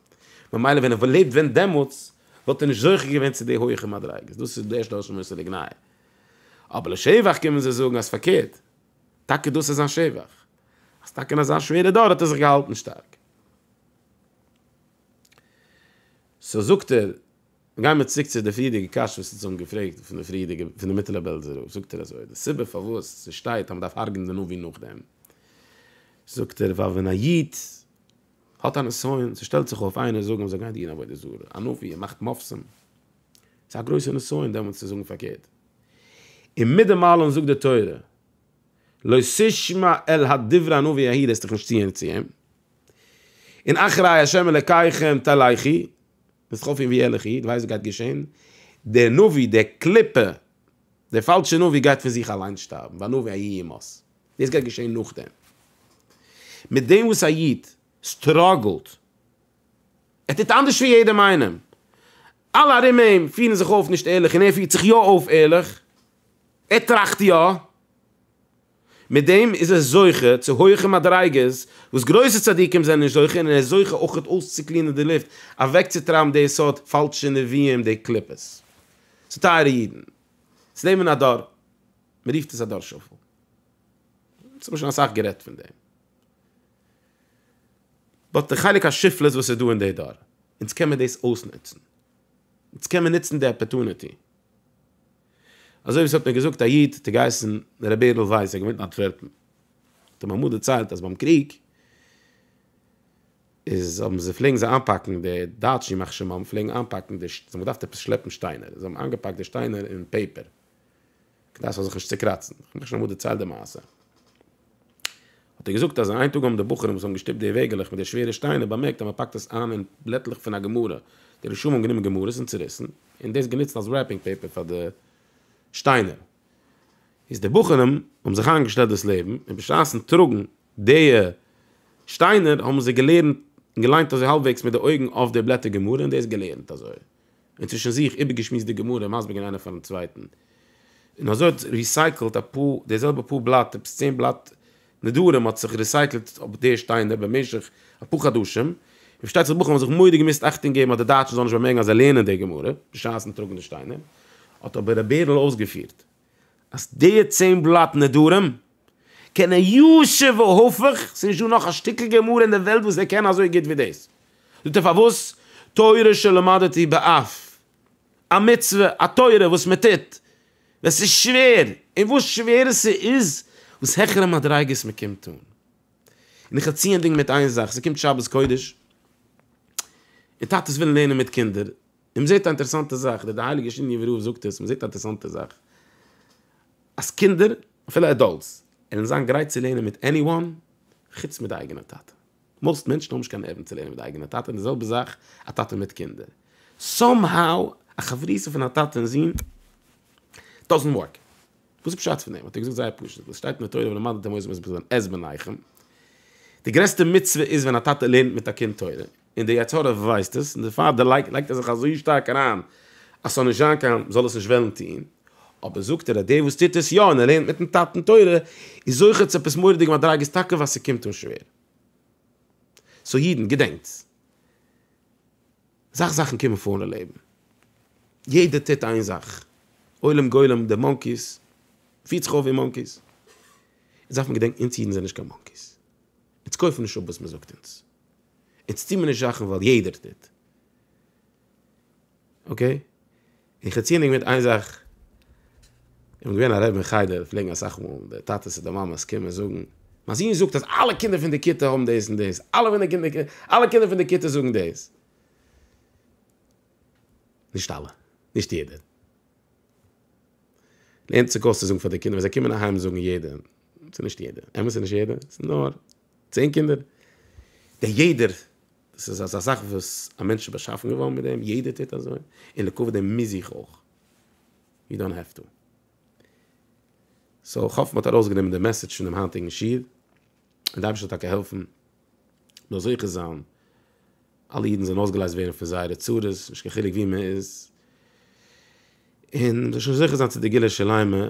ממילא ווען ער וואלט לעבט ווען דעמאלטס וואלט ער נישט זוכה געווען צו די הויעכע מדריגות, דאס איז די ערשטע לשון מוסר לגנאי. אבער לשבח קומען זיי זאגן אז פארקערט, טאקע דאס איז זיין שבח, אז טאקע אין אזא שווערע דור האט ער זיך געהאלטן שטארק. סאו זאגט ער, גייען מיר צוריק צו די פריערדיגע קשיא וואס אונז האבן געפרעגט פון די פריערדיגע פון די מיטעלע בעלזער רב זאגט ער אזוי די סיבה פארוואס ס'שטייט אז מ'דארף הרג'ן די נביא נאכדעם זאגט ער ווייל ווען א איד האט א נסיון ס'שטעלט זיך אויף איינער זאגן זאל גיין דיען עבודה זרה א נביא ער מאכט מופתים ס'איז א גרויסע נסיון דעמאלטס צו זאגן פארקערט און מיט דעם אלעם זאגט די תורה לא תשמע אל הדברי הנביא ההיא לאזט דיך נישט צוהערן צו אים און אחרי השם אלקיכם תלכי ביסט חוץ פון ווי ערליך איד ווייסט וואס גייט געשען, דער נביא, דער קליפה, דער פאלשער נביא גייט פון זיך אליין שטארבן, והנביא היה ימות, דאס גייט געשען נאכדעם. מיט דעם וואס א איד סטראגלט, ער טוט אנדערש פון יעדעם איינעם, אלע ארום אים פירן זיך אויף נישט ערליך און ער פירט זיך יא אויף ערליך, ער טראכט יא, מיט דעם איז ער זוכה צו הויכע מדריגות וואס גרויסע צדיקים זענען נישט זוכה, און ער איז זוכה אויך אויסצוקלינען די לופט, אוועקצוטרייבן די סארט פאלשע נביאים, די קליפות. סאו טייערע אידן, עס לעבן אין א דור, מען רופט עס א דור שפל, אונז האבן שוין אסאך גערעדט פון דעם, באט די חלק השפלות וואס איז דא אין די דור, אונז קען מען דאס אויסנוצן, אונז קען מען נוצן די אפערטוניטי. אזוי ווי ס'האט מיר געזאגט א איד, האט ער געהייסן ר' בערל ווייס, ער האט געוואוינט אין אנטווערפן, האט ער מיר אמאל דערציילט אז ביים קריג איז האבן זיי פלעגן זיי איינפאקן די דייטשן ימח שמם פלעגן איינפאקן די, זיי האבן געדארפט עפעס שלעפן שטיינער, זיי האבן איינגעפאקט די שטיינער אין פעיפער, כדי ס'זאל זיך נישט צוקראצן, איך האב מיך שוין אמאל דערציילט די מעשה. האט ער געזאגט אז איין טאג האבן די בחורים וואס האבן געשטופט די וועגעלעך מיט די שווערע שטיינער באמערקט אז מען פאקט עס איין אין בלעטלעך פון א גמרא, די רשעים האבן גענומען גמרות און צוריסן און דאס גענוצט אלס רעפינג פעיפער פאר די שטיינער, איז די בחורים האבן זיך איינגעשטעלט דאס לעבן און בשעת'ן טראגן די שטיינער האבן זיי געלערנט און געליינט אזוי האלבוועגס מיט די אויגן אויף די בלעטער גמרא און דאס געלערנט אזוי. און צווישן זיך איבערגעשמועסט די גמרא, מסביר געווען איינער פארן צווייטן, און אזוי האט ריסייקלט א פאר די זעלבע פאר בלאט, עפעס צען בלאט נדרים האט זיך ריסייקלט אויף די שטיינער במשך אפאר חדשים, און פארשטייט זיך בחורים האבן זיך מורא געמוזט אכטונג געבן אז די דייטשן זאלן נישט באמערקן אז זיי לערנען די גמרא בשעת'ן טראגן די שטיינער, האט אבער ר' בערל אויסגעפירט. אז די צען בלאט נדרים קענען י ש והפוך, ס'איז נישט דא נאך א שטיקל גמרא אין די וועלט וואס ער קען אזוי גוט ווי דאס, זאגט ער פארוואס, תורה שלמדתי בעפ, א מצוה, א תורה וואס מען טוט ווען ס'איז שווער, און וואס שווערער ס'איז וואס העכערע מדריגות מען קומט אן, און איך ערצי ענדיגן מיט איין זאך, ס'קומט שבת קודש, און טאטעס ווילן לערנען מיט קינדער, און מען זעט א אינטערעסאנטע זאך, די הייליגע שיניעווע רב זאגט עס, מען זעט א אינטערעסאנטע זאך, אז קינדער, אפילו עדאלטס, עלען זיין גרייט צו לערנען מיט עני וואן, חוץ מיט די אייגענע טאטע. מאוסט מענטשן האבן נישט קיין נערוון צו לערנען מיט די אייגענע טאטע, און די זעלבע זאך א טאטע מיט קינדער. סאם האו, א חברותא פון א טאטע און זון, דאזענט ווארק. וואס איז פשט פון דעם? האט ער געזאגט זייער פשוט, וואס שטייט אין די תורה ולמדתם עז בניכם, די גרעסטע מצוה איז ווען א טאטע לערנט מיט א קינד תורה. און דער יצה ר ווייסט עס, און דערפאר דערלייגט לייגט ער זיך אזוי שטארק אריין אז ס'זאל נישט זיין קיין זאל עס נישט וועלן טון, אבער זאגט ער אז דער וואס טוט עס יא און ער לערנט מיט'ן טאטן תורה איז זוכה צו עפעס מורא'דיגע מדריגות טאקע ווייל ס'קומט אן שווער. סאו אידן, געדענקטס, אסאך זאכן קומען פאר אין לעבן, יעדער טוט איין זאך, עולם גולם, די מאנקיס פירט זיך אויף ווי מאנקיס, אונז דארף מען געדענקן אונז אידן זענען נישט קיין מאנקיס, אונז קויפן נישט אפ וואס מען זאגט אונז. אונז טוהן מיר נישט זאכן ווייל יעדער טוט. אקעי? און כ'האב צוענדיגט מיט איין זאך. איך בין געווען א רבי אין חדר, פלעגן אסאך מאל די טאטעס אדער מאמעס קומען זאגן, מיין זון זאגט אז אלע קינדער פון די כיתה האבן דאס און דאס, אלע פון די קינדער, אלע קינדער פון די כיתה זאגן דאס. נישט אלע. נישט יעדער. לערנט זיך אויס צו זאגן פאר די קינדער ווען זיי קומען אהיים זאגן יעדער. ס'איז נישט יעדע, אמת ס'איז נישט יעדע, ס'איז נאר צען קינדער, די יעדער, דאס איז אזא זאך וואס א מענטש איז באשאפן געווארן מיט דעם, יעדער טוט אזוי, און לכה פ דעם מוז איך אויך, יו דאנט העוו טו. סאו כ'האף מ'האט ארויסגענומען די מעסעדזש פונעם היינטיגן שיעור, און די אייבערשטער זאל טאקע העלפן מיר זוכה זיין אלע אידן זאלן אויסגעלייזט ווערן פון זייערע צרות, נישט קיין חילוק וואו מ'איז, און מ'זאל שוין זוכה זיין צו די גאולה שלימה,